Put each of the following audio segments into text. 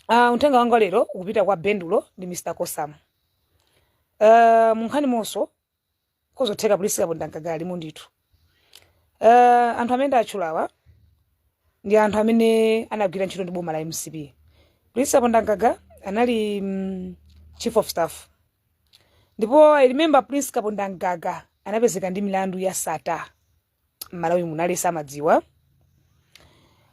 Uh, uthenga wanga lero ukupita kwa Bendulo ndi Mr. Kosamu. Uh, munkhani monso kozotheka Prince Kapondamgaga alimo ndithu. Uh, anthu amene ndatchulawa ndi anthu amene anagwira ntchito ndi boma la MCP. Prince Kapondamgaga anali mm, chief of staff. Ndipo I remember Prince Kapondamgaga anapezeka ndi milandu ya Sattar. mmalawi muno aliyense amadziwa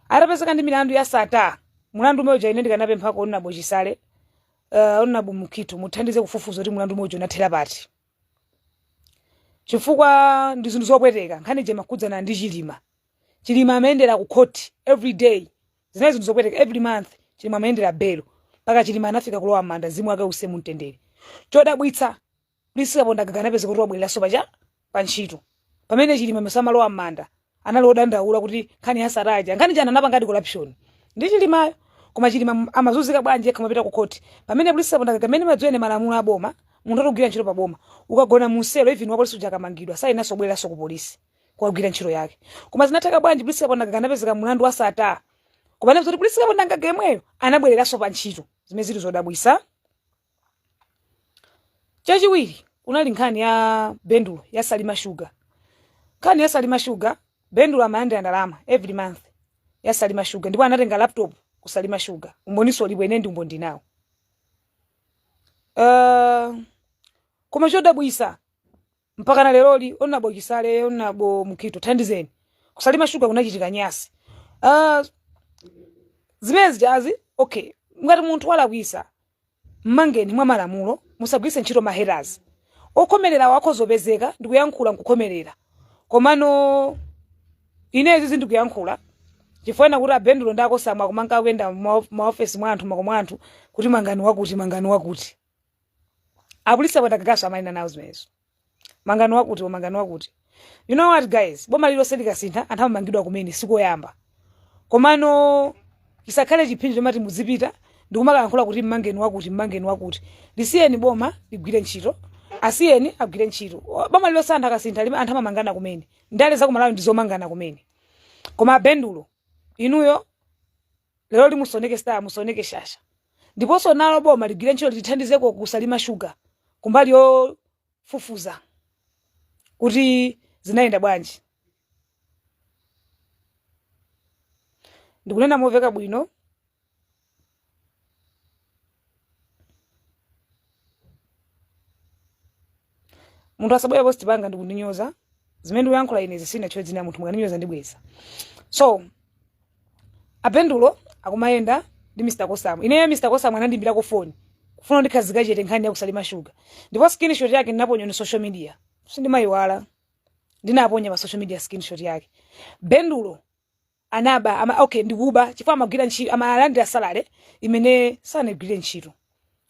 atapezeka ndi milandu ya Sattar mulandu umene uja ine ndikanapemphako honourable Chisale uh, honourable Mukhito muthandize kufufuza kuti mulandu umene uja unathera pati chifukwa ndi zinthu zopweteka nkhani ija imakhudzana ndi chilima chilima amayendera ku court every day zinali zinthu zopweteka every month chilima amayendera belo mpaka chilima anafika kulowa manda mzimu wake uuse mumtendere chodabwitsa Prince Kapondamgaga anapezeka kuti wabwereranso paja pa ntchito pamene Chilima mesa amalowa m'manda anali odandaula kuti nkhani ya Sattar ija nkhani ija anapangadi corruption ndi Chilimayo koma Chilima m- amazunzika bwanji yekha amapita ku khoti pamene Prince Kapondamgaga amene ndimadziwa ine malamulo a boma munthu atogwira ntchito pa boma ukagona mu selo even wa polisi uja akamangidwa sayenanso kubwereranso ku polisi kukagwira ntchito yake koma zinatheka bwanji Prince Kapondamgaga anapezeka mlandu wa Sattar koma anapeza kuti Prince Kapondamgaga yemweyo anabwereranso pa ntchito zimene zili zodabwisa chachiwiri kunali nkhani ya bendulo ya salima sugar nkhani ya salima sugar bendulo amalandira ndalama every month ya salima sugar ndipo anatenga laptop ku salima sugar umboniso ulipo ine ndi umboni ndinawo uh, koma chodabwisa mpakana leroli honourable Chisale honourable Mukhito thandizeni ku Salima Sugar kunachitika nyasi uh, zimene zijazi okay ngati munthu walakwisa mmangeni mwa malamulo musagwiritse ntchito mahaters okhomerera wako zopezeka ndikuyankhula nkukhomerera komano ine izi ndikuyankhula chifukwa chonena kuti abendulo nda Kosamu akumanka kuyenda mmaofesi mwa anthu mmakomo mwa anthu kuti mangani wakuti mangani wakuti a Prince Kapondamgagaso amayenda nawo zimenezo mangani wakuti mangani wakuti you know what guys boma lilonse likasintha anthu amamangidwa kumene sikoyamba komano chisakhale chiphinjo chomati muzipita ndikumakayankhula kuti mmangeni wakuti mmangeni wakuti lisiyeni boma ligwire ntchito asiyeni agwire ntchito O- boma lilonse anthu akasintha lime- anthu amamangana kumene ndale zakumalawi ndizomangana kumene koma abendulo inuyo lero lino musaoneke star musaoneke shasha ndiponso nalo boma ligwire ntchito litithandizeko ku Salima Sugar kumbali yofufuza kuti zinayenda bwanji ndikunena moveka bwino munthu asabwere pa post panga ndikundinyoza zimene ndikuyankhula ine sizinatchule dzina munthu mukandinyoza ndibweza so Bendulo akumayenda ndi mr kosamu ineyo mr kosamu anandiimbirako foni kufuna ndikhale chete nkhani ya ku Salima shuga ndipo screenshot yake ndinaponya pa social media sindimayiwala ndinaponya pa social media screenshot yake bendulo anaba, okay ndikuba chifukwa amagwira ntchito amalandira salary imene sanagwire ntchito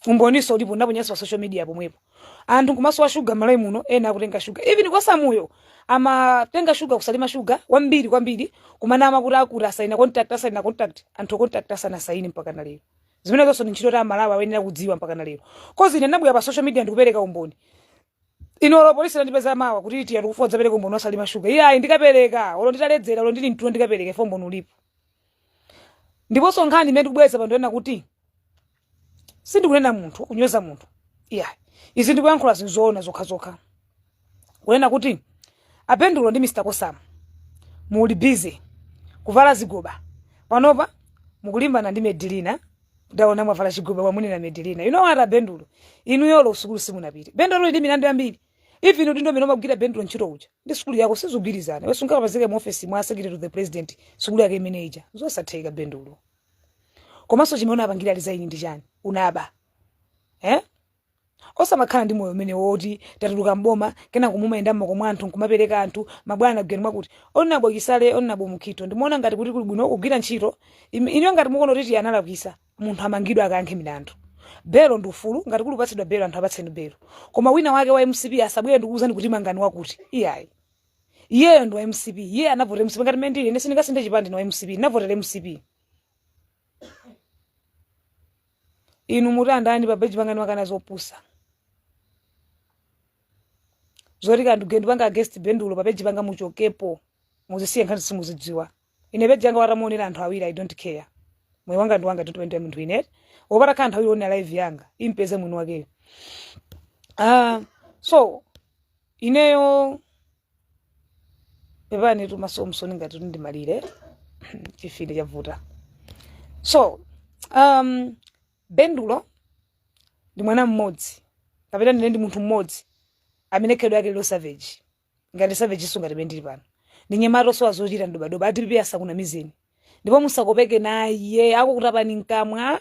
umboninso ulipo ndaponyanso pa social media pomwepo anthu kumasowa shuga malawi muno ena akutenga shuga even Kosamuyo amatenga shuga ku Salima shuga wambiri kwambiri kumanama kuti akuti asaina contract asaina contract anthu contract asanasaine mpaka na lero zimenezonso ndi ntchito a Malawi ayenera kudziwa mpaka na lero kozi ine ndabwera pa social media ndikupereka umboni Inu olo polisi atandipeza mawa kuti iti akufuna udzapeleke umboni wa Salima shuga. Iyayi ndikapeleka olo nditaledzera olo ndili mtulo ndikapeleka fo umboni ulipo. Ndiponso nkhani imene ndikubweretsa pano ndiyonena kuti sindikunena munthu kunyoza munthu. Iyayi. Izi ndikuyankhula zinthu zoona zokhazokha. Kunena kuti a Bendulo ndi Mr. Kosamu muli busy kuvala zigoba panopa mukulimbana ndi Medilina Ndaona mwavala chigoba mwamunena Medelina. You know what a Bendulo? Inuyo olo sukulu simunapite. Bendulo uli ndi milandu yambiri. Even udindo umene umagwira Bendulo ntchito uja. Ndi sukulu yako sizugwirizana. Iweyo sungapezeke mu office mwa secretary to the president. Sukulu yake imene ija. Zosatheka Bendulo. Komanso chimene unapangira resign ndi chani? Unaba. Eh? Osamakhala ndi moyo umenewo oti tatuluka m'boma kenako mumayenda m'makomo mwa anthu nkumapereka anthu, mabwana geni mwakuti. anabo Chisale anabo Mukhito, ndimuona ngati kuti kuli bwino kugwira ntchito inuyo ngati mukuona kuti analakwitsa munthu amangidwe akayankhe milandu. Belo ndi ufulu, ngati kuli kupatsidwa belo anthu apatseni belo. Koma wina wake wa mcp asabwere ndikukuuzani kuti mangani wakuti. Iyayi. Iyeyo ndi wa mcp, iye anavotera mcp ngati mmene ndili ine sindingasinthe chipani ndine wa mcp, ndinavotera mcp. inu mudandani pa page panga ndimakana zopusa zoti kanthu geni upanga against bendulo pa page panga muchokepo muzisiye nkhani simuzidziwa ine page yanga atamaonera anthu awiri i don't care moyo wanga ndi wanga timpembedza munthu ine osapata kaye nthawi yonera live yanga impeze mwini wakeyo Ah, so ineyo pepanitu maso mwamisozi ngati ndimalira chimfine chavuta so um, bendulo ndi mwana mmodzi kapena ndinene ndi munthu mmodzi amene khalidwe lake ili lo savage ngati savage so ngati mmene alili pano ndi mnyamata osowa zochita ndi dobadoba a DPP asakunamizeni ndipo musakopeke naye akukutapani mkamwa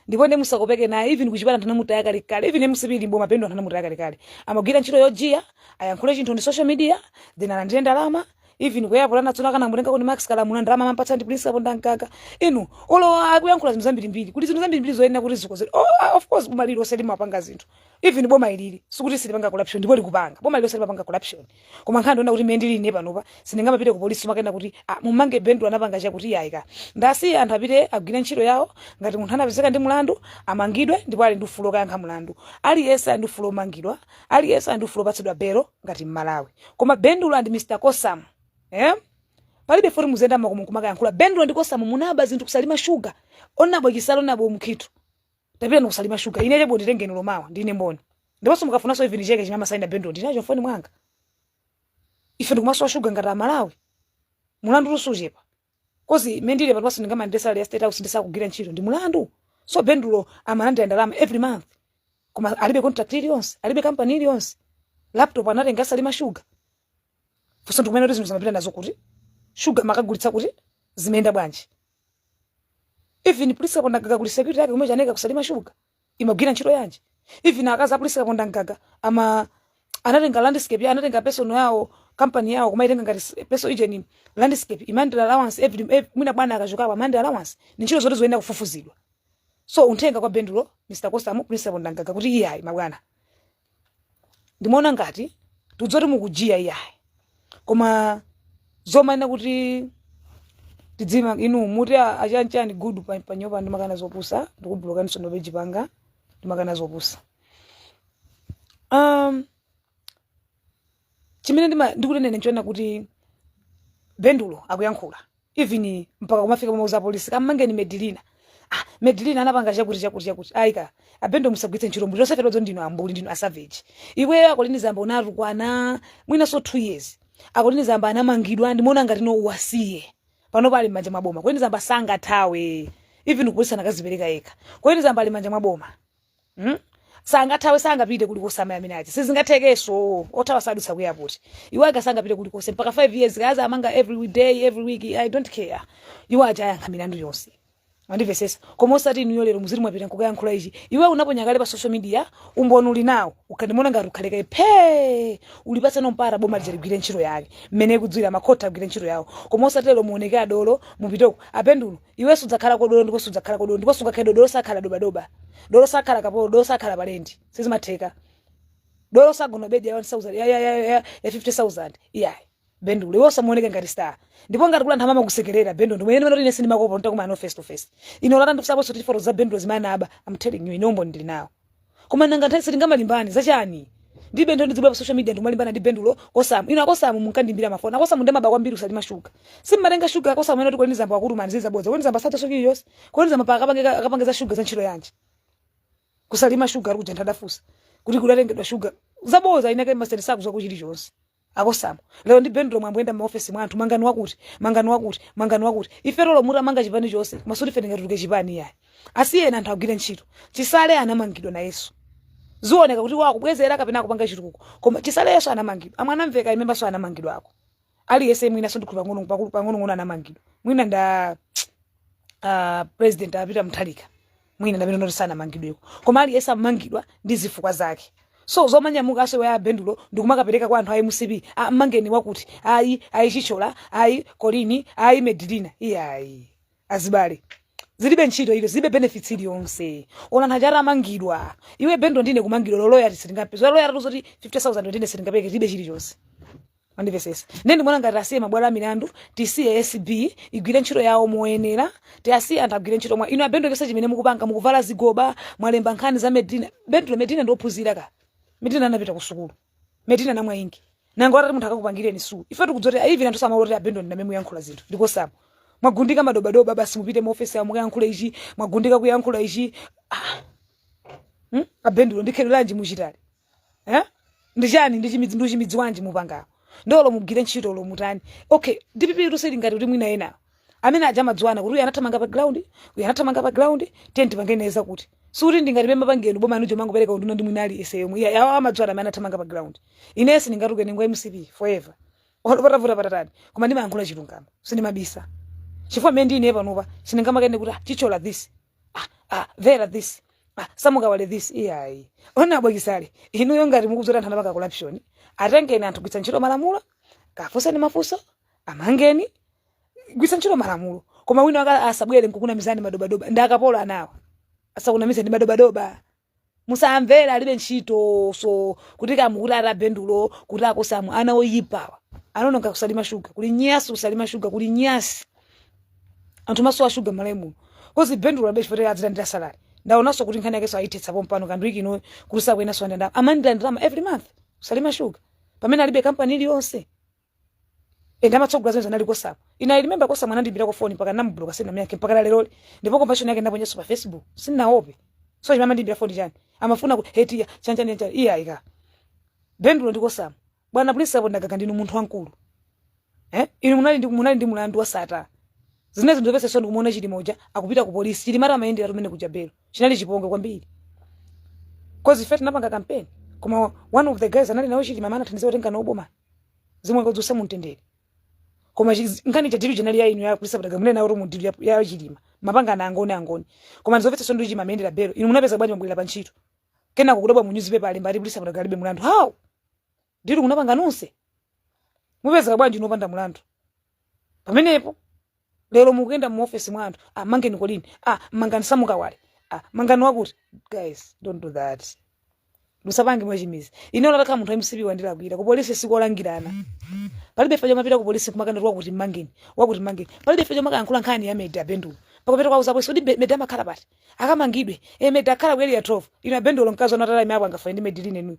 ndipo ndi musakopeke naye even kuchipata anthu anamutaya kalekale even mcp ili m'boma bendulo anthu anamutaya kalekale amagwira ntchito yojiya ayankhule chinthu ndi social media then alandire ndalama even kuyapola natsona kana mutenga kuti max kalamula ndalama amampatsa ndi prince kapondamgaga inu olo akuyankhula zinthu zambirimbiri kuti zinthu zambirimbiri zoyenera kuti zikonzedwe oh, ah, of course boma lililonse limapanga zinthu even boma ilili sikuti silipanga corruption ndipo likupanga boma lililonse limapanga corruption koma nkhani ndi yonena kuti mmene ndili ine panopa sindingamapite ku polisi kumakanena kuti ah, mumange bendulo anapanga chakuti iyayi ka ndiwasiye anthu apite agwire ntchito yawo ngati munthu anapezeka ndi mlandu amangidwe ndipo ali ndi ufulu wokayankha mlandu aliyense ali ndi ufulu womangidwa aliyense ali ndi ufulu wopatsidwa belo ngati mmalawi koma bendulo and mr kosam eh? palibe zoti muziyenda makomo kumakayankhula bendulo ndi kosam munaba zinthu kusalima shuga honourable chisale honourable mukhito tapitani kusalima shuga ine chebo nditengeni olo mawa ndine mboni ndiponso mukafunanso even cheke chimene amasaina bendulo ndinacho mfoni mwanga ife ndikumasowa shuga ngati amalawi mulandu lusuchepa coz mmene ndilili panopaso ndingamalandire salary ya state house ndisakugwira ntchito ndi mulandu so bendulo amalandira ndalama every month koma alibe contract iliyonse alibe kampani iliyonse laptop anatenga asalima shuga funso ndikumene kuti zinthuzi amapita nazo kuti shuga amakagulitsa kuti zimayenda bwanji even prince kapondamgaga kuli security yake kumene chaneka kusalima shuga imagwira ntchito yanji even akazi a prince kapondamgaga ama anatenga landscape ya anatenga personal yawo company yawo kumaitenga ngati s- personal agent landscape imalandira allowance every ev- mwina bwana akachoka apa amalandira allowance ni ntchito zoti zoyenera kufufuzidwa so uthenga kwa bendulo mr kosam prince kapondamgaga kuti iyayi mabwana ndimaona ngati tidzoti mukujiya iyayi koma zomanena kuti tidzima inu muti a- achanchani good pa- panyopa ndimakana zopusa ndikubulokaniso papeji panga ndimakana zopusa um, chimene ndima- ndikunenera nchonena kuti bendulo akuyankhula even mpaka kumafika pomauza apolisi kammangeni medilina ah, medilina anapanga chakuti chakuti chakuti ayi ka abendulo musagwiritse ntchito umbuli osafera odzo ndinu ambuli ndinu asavage iweyo a colleen zamba unatukwana mwinanso two years a colleen zamba anamangidwa ndimaona ngati no uwasiye panopa ali m'manja mwa boma colleen zamba sangathawe even kupolisi anakazipereka yekha colleen zamba ali m'manja mwa boma Hmm? sangathawe sangapite kulikose amene aja sizingathekeso othawa sadutsa ku airport iwo aja sangapite kulikose mpaka 5 years kaza amanga every day every week i don't care iwo aja ayankha milandu yonse andivesesa koma osati inuyo lero muziti mwapita nkukayankhula ichi iwe unaponya kale pa social media umboni uli nawo uka ndimaona ngati ukhale kaye phe ulipatseno mpata boma lija ligwire ntchito yake mmene ikudziwira makhoti agwire ntchito yawo koma osati lero muoneke adolo mupiteko abendulo iwe sudzakhala kodolo ndipo sudzakhala kodolo ndipo sungakhale dolo dolo sakhala dobadoba dolo sakhala kapolo dolo sakhala palendi sizimatheka dolo sagona bedi ya 1000 ya ya ya ya ya 50000 iyayi bendulo iwe usamaoneke ngati star ndipo ngati kula anthu amakusekerera bendulo ndimwe ine ndimene sindimakuopa nditakumana nawe face to face ino lata ndikusapo soti foto za bendulo zimene anaba i'm telling you ine umboni ndili nawo Koma nanga nthawi sitingamalimbane za chani? Ndi bendulo ndidziba pa social media ndikumalimbana ndi bendulo kosamu. Inu akosamu munkandiimbira mafoni. Akosamu nde amaba kwambiri ku Salima shuga. Simmatenga shuga akosamu ena kuti kweni zamba wakutumani ziza bodza. Kweni zamba sacha soki yos. Kweni zamba pa akapange akapange za shuga za ntchito yanji. Ku Salima shuga ali kuja nditafunsa. Kuti kunatengedwa shuga. Za bodza inake masiteni sakudziwako chilichonse. Akosamu. Lero ndi Bendulo mwe mwayamba kuyenda mma office mwa anthu mangani wakuti, mangani wakuti, mangani wakuti. Ifetu olo mutamanga chipani chonse koma sikuti ife tingatuluke chipani iyayi. Asiyeni anthu agwire ntchito. Chisale anamangidwa nayenso. Zioneka kuti iwo akubwezera kapena akupanga chitukuko. Koma Chisale nayenso anamangidwa. A Mwanamvekha inenso mwina anamangidwako. Aliyense mwinanso ndikhulupira pang'onong'ono anamangidwa. Mwina nda ah president a Peter Mutharika. mwina ndi amene oti sanamangidweko koma aliyense amangidwa ndi zifukwa zake so zomanyamukanso iwe abendulo ndikumakapereka kwa anthu a mcp "Ah, mmangeni wakuti ayi ayi chithyola ayi kolini ayi medilina iyayi azibale zilibe ntchito iliyonse zilibe benefits iliyonse ona anthu achita amangidwa iwe bendulo ndine kumangidwa loloya sitingapeze loya tatu zoti 50000 ndine sindingapeke zilibe chilichonse mwandimvetsetsa ndiye ndikuona ngati tiasiye mabwalo a milandu tisiye acb igwire ntchito yawo moyenera tiasiye anthu agwire ntchito koma inu abendulo chonse chimene mukupanga mukuvala zigoba mwalemba nkhani za medina bendulo medina ndiophunzira ka medina anapita ku sukulu medina namwa ingi nango atati munthu akakupangireni suu ife tikudziwa zoti even anthu samadziwa oti abendulo ndi amene mukuyankhula zinthu ndi kosamu mwagundika madobadoba basi mupite mu ofesi yawo mukayankhule ichi mwagundika kuyankhula ichi ah. hmm? abendulo ndikhereranji muchitali eh ndi chani ndi chimidzi ndi chimidzi bwanji mupanga nde olo mugwire ntchito lo mutani okay dpp tuseli ngati kuti mwina ena amene aja amadziwana kuti uyu anathamanga pa ground uyu anathamanga pa ground tiye tipangene za kuti sikuti ndingati mwina pangani boma anujo mangopereka unduna ndi mwina aliyense yomwe iyayi awa amadziwana amene anathamanga pa ground ine sindingatuke ndine wa mcp forever olo patavuta patatani koma ndimayankhula chilungamo sindimabisa chifukwa mmene ndine panopa sindingamakanene kuti "Ah, chithyola this ah, ah, vera this ah, sam kawale this iyayi ona abwana chisale inuyo ngati mukudziwa zoti anthu anapanga corruption atengeni anthu gwiritsani ntchito malamulo kafunseni mafunso amangeni gwiritsani ntchito malamulo koma wina wake asabwere nkukunamizani madobadoba ndi akapolo awawa asakunamizeni madobadoba musawamvere alibe ntchito so kuti kamu kuti ati abendulo kuti akosamu ana oyipawa anawononga ku salima shuga kuli nyansi ku salima shuga kuli nyansi anthu amasowa shuga malawi muno kodi bendulo abe chifukwa adzilandira salari ndaonanso kuti nkhani yakenso ayithetsa pompano kanthu ikino kuti sakuyenanso amalandira ndalama every month ku salima shuga pamene alibe kampani iliyonse ende amatsogola zimene anali kosamu ine i remember kosamu anandiimbirako foni mpaka ndinamubloka sindinamyankhe mpaka leroli ndipo conversation yake ndinaponyanso pa facebook sindinaope so chimene amandiimbira foni chani amafuna ku hetiya chanchani chanchani iyayi ka bendulo ndi kosamu bwana prince kapondamgaga ndinu munthu wamkulu eh inu munali ndi munali ndi mulandu wa sattar zina zinthu zomvetsa chisoni kumuona chilima uja akupita ku polisi chilima amayendera tumene kuja belo chinali chipongwe kwambiri cause ife tinapanga campaign koma one of the guys anali nawo chilima amene anathandiza kutenga nawo boma mzimu wake udziusa mu mtendere koma chiz- nkhani cha dilu chinali ya inu a prince kapondamgaga munena kuti mu dilu ya- ya chilima mapanga ana angoni angoni koma ndizomvetsa chisoni chilima amayendera belo inu munapeza bwanji mabwera pa ntchito kenako kudabwa mu newspaper alemba ati prince kapondamgaga alibe mulandu how dilu munapanga nonse mupezeka bwanji inu opanda mulandu pamenepo lero mukuyenda mu office mwa anthu ah, mangeni colleen ah, mangani sam kawale ah, mangani wakuti guys don't do that musapange mwachimidzi ine atakhala munthu mcp wandilakwira ku polisi sikolangirana palibe ife chomapita ku polisi kumakanena wakuti mangeni wakuti mangeni palibe ife chomakayankhula nkhani ya meda bendulo pakupita kuwauza apolisi oti meda amakhala pati akamangidwe e meda akhala ku area 12 inu a bendulo mkazi wanu atati aime apo angafane ndi mediline nuyo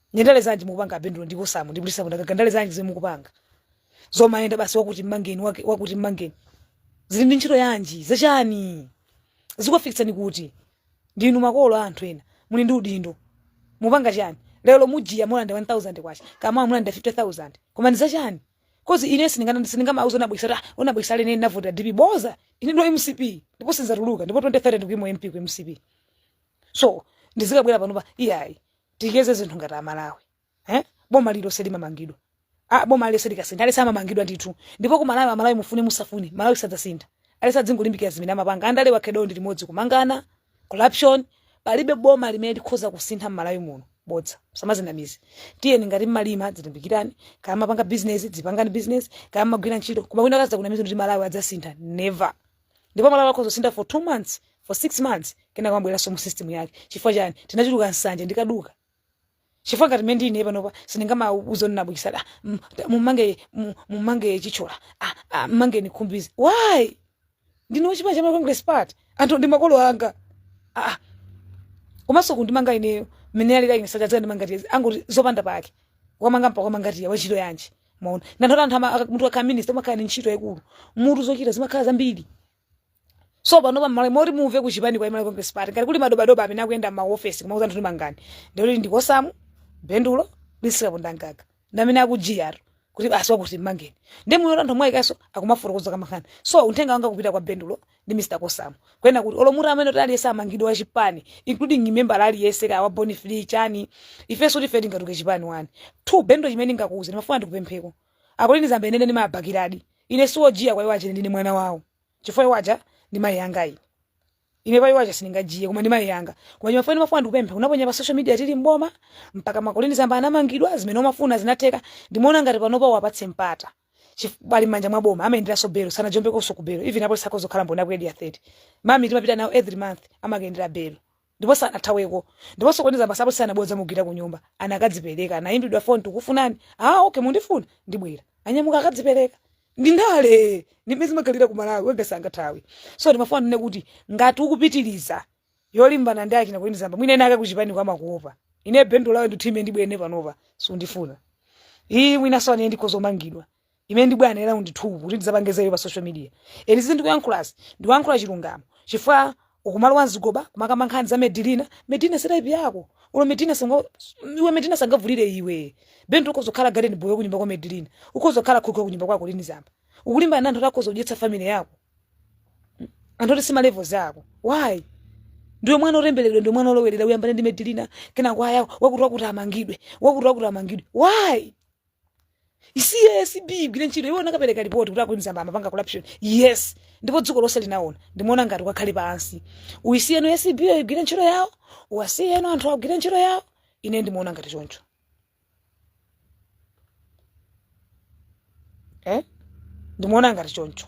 ndi ndale zanji mukupanga a bendulo ndi kosamu ndi prince kapondamgaga ndale zanji zomwe mukupanga zomayenda basi wakuti mmangeni wake- wakuti mmangeni zili ndi ntchito yanji zachani zikufikitsani kuti ndinu makolo a anthu ena muli ndi udindo mupanga chani lero mujiya mulanda 1000 kwacha kaya mulanda 50000 koma ndi zachani cause ine sindingana sindingamauze a norman chisale ah, a norman chisale ine ndinavota dpp boza ine ndi wa mcp ndipo sinzatuluka ndipo 2030 ndikuima u mp ku mcp so ndizikabwera panopa iyayi tikonze zinthu ngati amalawi eh? boma lililonse limamangidwa ah, boma lililonse likasintha aliyense amamangidwa ndithu ndipo ku malawi amalawi mufune musafune malawi sadzasintha aliyense adzingolimbikira zimene amapanga andalewa khalidwe ndi limodzi kumangana corruption palibe boma limene likhoza kusintha mmalawi muno bodza osamadzinamiza tiyeni ngati mmalima dzilimbikirani kaya mapanga business dzipangani business kaya mmagwira ntchito koma wina akazakunamiza kuti malawi adzasintha never ndipo malawi akhoza kusintha for two months for six months kenaka amabweranso mu system yake chifukwa chani tinachuluka nsanje ndikaduka chifukwa ngati mmene ndine panopa sindingamauze norman chisale mm, da, mumange mu- mumange chithyola ah, ah, mmangeni khumbize why ndine wa chipani cha malawi congress party anthu ndi makolo anga ah, ah. komanso kundimanga ineyo mmene alira ine sajadzandimanga tiye angoti zopanda pake wamanga mpa kwamanga tiye wantchito yanji maona ndanthu anthu ama- aka- munthu akhala minista umakhala ni ntchito yaikulu mutu zochita zimakhala zambiri so panopa mmalo moti muve kuchipani kwa malawi congress party ngati kuli madobadoba amene akuyenda m'maofesi kumauza anthu kuti mangani ndikuti ndikosamu bendulo prince kapondamgaga ndamene akujiyatu kuti basi wakuti mmangeni ndi muyo anthu mwayikanso akumafotokoza kamankhani so uthenga wanga kupita kwa bendulo ndi Mr Kosam kunena kuti olo mutu amene aliyense amangidwa wa chipani including membala aliyense kaya wa Born Free chani ifenso tife tingatuke chipani wani two bendo chimene ndingakuuze ndimafuna ndikupempheko a Colleen Zamba inene ndimabakiradi ine siwojiya kwa iwo achene ndine mwana wawo chifukwa iwo aja ndi mayi anga ine ine pa iwo aja sindingajiye koma ndi mayi anga koma ndimafuna ndimafuna ndikupemphe unaponya pa social media tili mboma mpaka a Colleen Zamba anamangidwa zimene umafuna zinatheka ndimaona ngati panopa uwapatse mpata Chif- ali m'manja mwa boma amayenderanso belo sanajombekonso ku belo even apolisi akhoza kukhala mboni a ku Area 30 mami timapita nawo every month amakayendera belo ndipo sanathaweko ndiponso koniza basi apolisi sanabwere dzamugwira ku nyumba anakadzipereka anayimbidwa foni tikufunani ah okay mundifuna ndibwera ananyamuka akadzipereka ndi ndale ndi mmene zimakhalira ku malawi wega sangathawe so ndimafuna ndinene kuti ngati ukupitiriza yolimbana ndi akina Colleen Zamba mwina ena ake kuchipani kwa amakuopa ine bendo lawe ndithu ime ndibwene panopa sundifuna iyi mwina so anene ndikhoza kumangidwa ime ndibwane lawo ndithu kuti ndizapange zayo pa social media ine izi ndikuyankhulazi ndikuyankhula chilungamo chifukwa ukumalowa mzigoba kumakamba nkhani za medilina medina si type yako olo medina sanga iwe medina sangavulire iwe bendo ukhoza kukhala garden boy kunyumba kwa medilina ukhoza kukhala cook kunyumba kwa Colleen Zamba ukulimbana na anthu oti akhoza kudyetsa family yako anthu oti si ma levels ako why ndiwe mwana otembereredwa ndiwe mwana olowerera uyambane ndi medilina kenako aya wakuti wakuti amangidwe wakuti wakuti amangidwe why ACB igwire ntchito iwe unakapereka ripoti kuti a Colleen Zamba amapanga corruption yes ndipo dziko lonse linaona ndimaona ngati ukakhale pansi uyisiyeno ACB yo igwire ntchito yawo uwasiyeno anthu agwire ntchito yawo ine ndimaona ngati choncho eh? ndimaona ngati choncho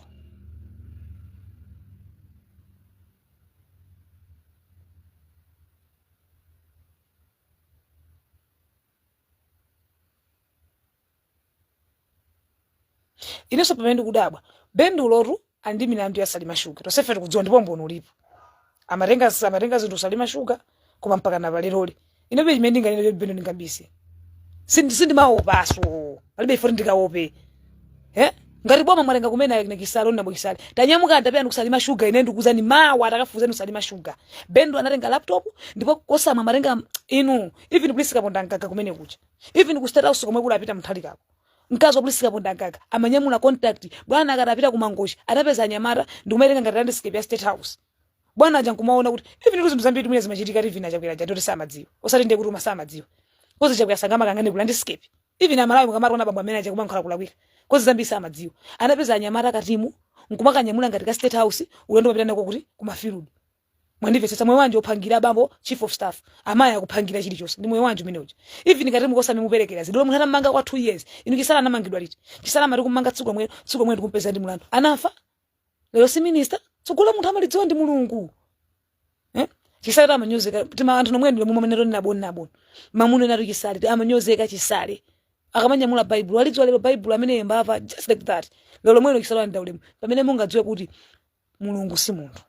inenso pamene ndikudabwa Bendulotu ali ndi milandu ya Salima Sugar. Tonsefe tikudziwa ndipo umboni ulipo. Amatenga amatenga zinthu Salima Sugar koma mpaka na pa leroli. Ine palibe chimene ndinganene kuti Bendo ndingabise. Sindi sindimaopaso. Palibe ifo ndikaope. Eh? Ngati boma mwalenga kumena ine kisalo na bokisali. Tanyamuka ndapita ndi kusalima sugar ine ndikuuzani mawa atakafunsa ndi salima sugar. Bendo anatenga laptop ndipo Kosam amatenga inu even Prince Kapondamgaga kumene kuja. Even ku state house komwe kuli Peter Mutharikako. mkazi wa Prince Kapondamgaga amanyamula contact bwana akati apita kumangochi anapeza anyamata ndikumaitenga ngati landscape ya state house bwana aja nkumaona kuti even zinthu zambiri zimene zimachitika even a Chakwera aja zoti samadziwa osati ndiye kuti uma samadziwa kozi chakwera sangamakayang'ane ku landscape even amalawi mukamati ona bambo amene aja kumankhula kulakwika kozi zambiri samadziwa anapeza anyamata katimu nkumakanyamula ngati ka state house ulendo umapita nako kuti kumafirudu Mwandimvetsetsa? Moyo wanji ophangira abambo chief of staff, amayi akuphangira chilichonse ndi moyo wanji umenewo? Even ngati mukose amimuperekera zidole munthu atamumanga kwa 2 years, inu Chisale anamangidwa liti? Chisale amati kumumanga tsiku lomwelo, tsiku lomwelo tikumpeza ndi mulandu. Anafa? Lero si minister? Tsogolo la munthu amalidziwa ndi Mulungu. Eh? Chisaletu amanyozeka tima anthu nomwe ndilo mumamene toni naboni naboni. Mumamunenatu Chisaletu amanyozeka Chisale. Akamanyamula Baibulo, alidziwa lero Baibulo ameneyu mbava just like that. Lero lomwelo Chisale ndaulemu. Pamene mungadziwe kuti mulungu si munthu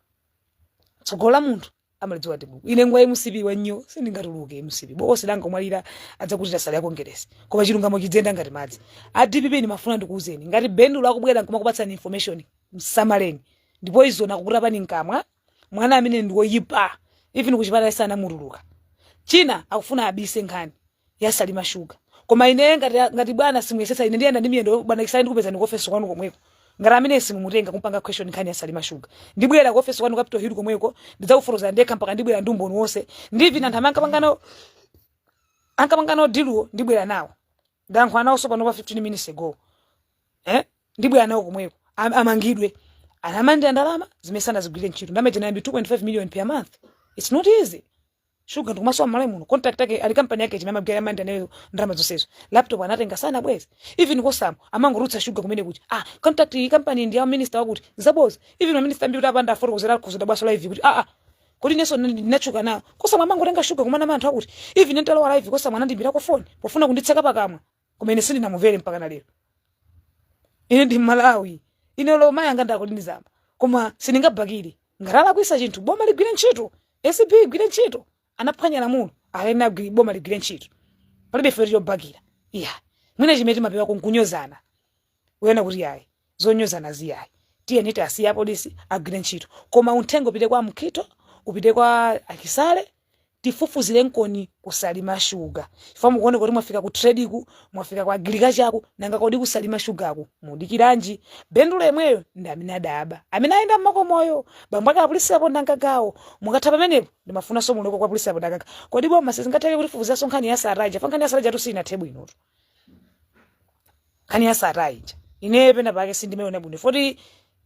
tsogolo la munthu amalidziwa ndi mulungu ine ngwa mcp wanyo sindingatuluke mcp bokosi langa omwalira adzakutira nsalu ya kongeresi koma chilungamo chidzenda ngati madzi a dpp ndimafuna ndikuwuzeni ngati bendulo akubwera nkumakupatsani information msamaleni ndipo izo nakukutapani mkamwa mwana amene ndiwoyipa even kuchipatala sanamutuluka china akufuna abise nkhani ya salima sugar koma ine ngati bwana simuyesetsa ine ndiyenda ndi miyendo bwana chisale ndikupezani ku office kwanu komweko ngati ameneyu simumutenga kumpanga question nkhani ya salima sugar ndibwera ku office kwanu capital hill komweko ndidzafotokoza ndekha mpaka ndibwera ndi umboni wonse ndi even anthu amene ankapanga nawo ankapanga nawo diluwo ndibwera nawo ndayankhula nawo tsopano pa 15 minutes ago eh ndibwera nawo komweko Am- amangidwe amalandira ndalama zimene sanazigwirire ntchito ndamene tinayambi 2.5 million per month it's not easy shuga ndikumasowa mmalawi muno contract yake ali kampani yake chimene amagwira amanda nayo ndalama zonsezo laptop anatenga sanabweze even kosamu amangotulutsa shuga kumanena kuti ah contract iyi kampani ndi ya minister wakuti zaboza even ma minister ambiri apanga follow kudzera kuzoda bwaso live kuti ah ah kodi inenso ndinatchuka nawo kosamu amangotenga shuga kumanama anthu akuti even nditalowa live kosamu anandimbirako foni pofuna kunditseka pakamwa koma ine sindinamuvere mpaka na lero ine ndi mmalawi ine olo mayi anga ndako ndinizamba koma sindingabakire ngati alakwitsa chinthu boma ligwire ntchito acb igwire ntchito anaphwanya lamulo alene agwire boma ligwire ntchito palibe ife chobakira iya mwina chimene timapewako nkunyozana kunena kuti yayi zonyozana ziyayi tiyeni tisiye polisi agwire ntchito koma unthenga upite kwa mukhito upite kwa a chisale tifufuzirenkoni ku salima sugar chifukwa mukuoneka kuti mwafika ku tradeku mwafika ku agricultureku nanga kodi ku salima sugarku mudikiranji bendulo yemweyo ndi amene adaba amene ayenda mmakomoyo bambo ake a prince kapondamgagawo mukatha pamenepo ndimafunanso muloweko kwa prince kapondamgagawo kodi boma sizingatheke kutifufuziranso nkhani ya sattar ija fa nkhani ya sattar ijatu siyinathe bwinotu nkhani ya sattar ija ine pena pake sindimaiona bwino foti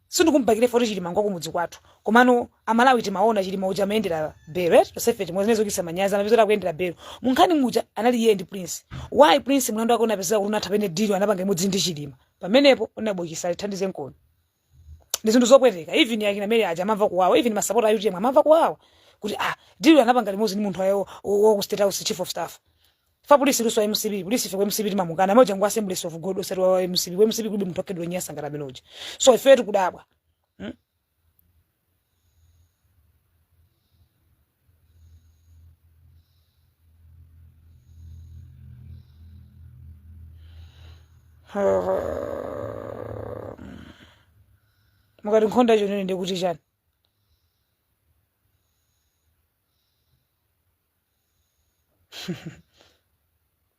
sindikumbakira foti chilima ngwa kumudzi kwathu komano amalawi timaona chilima uja amayendera belo eti tonsefe timwe zimene zochititsa manyazi anapezeka akuyendera belo munkhani muja anali iye ndi prince why prince mlandu wake unapezeka kuti unatha pamene deal anapanga limodzi ndi chilima pamenepo unabokisa tithandizenkoni ndi zinthu zopweteka even akina mary aja amamva kuwawa even masapota a utm amamva kuwawa kuti ah deal anapanga limodzi ndi munthu ayo wa ku state house chief of staff fa prince luso mcp prince ife ku mcp timamukana amene uja ngwa assemblies of god osati wa mcp ku mcp kulibe munthu wakhalidwe lonyansa ngati amene uja so ife tikudabwa mukatikonda icho nene ndikuti chani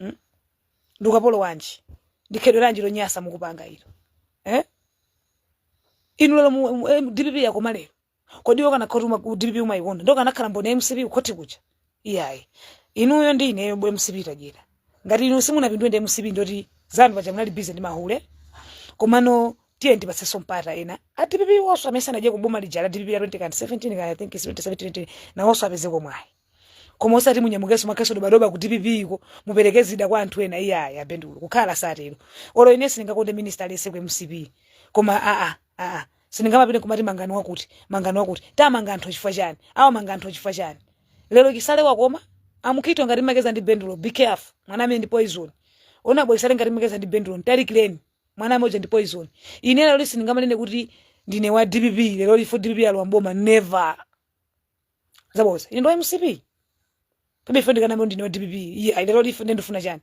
mm? ndi ukapolo wanji ndi khalidwe lanji lonyasa mukupanga ilo eh? inu lero mu- mu- eh, dpp yakoma lero kodi wakana kuti uma- ku dpp umayikonda udakakhala mboni ya mcp kukhoti kuja iyayi inuyo ndi ineyo bwe mcp tadyera ngati inu simunapindule ndi mcp ndi zanu paja munali bize ndi mahule komano tiyeni tipatsenso mpata ena a dpp onse amene sanadye m'boma lija la dpp la 2017 kaya i think is 2017 nawonso apezeko mwayi koma osati munyamukenso makhasu dobadoba ku dpp iko mupereke zida kwa anthu ena iyayi a ben longwe kukhala sitero olo ine sindingakonde minister aliyense ku mcp koma aa aa sindingamapitenso kumati mangani wakuti mangani wakuti tamanga anthu chifukwa chani awamanga anthu chifukwa chani lero chisale wakoma ngati mukucheza ndi ben longwe be careful mwana amene ndi poison a bwana chisale ngati mukucheza ndi ben longwe mtalikireni mwana amene uja ndi poison ine lero sindingamanene kuti ndine wa dpp lero chifukwa dpp yalowa m'boma never Zaboza. Ine ndi wa MCP. Kodi ife ndikaname ndine wa DPP. Iyayi lero ife ndiye ndifuna chani?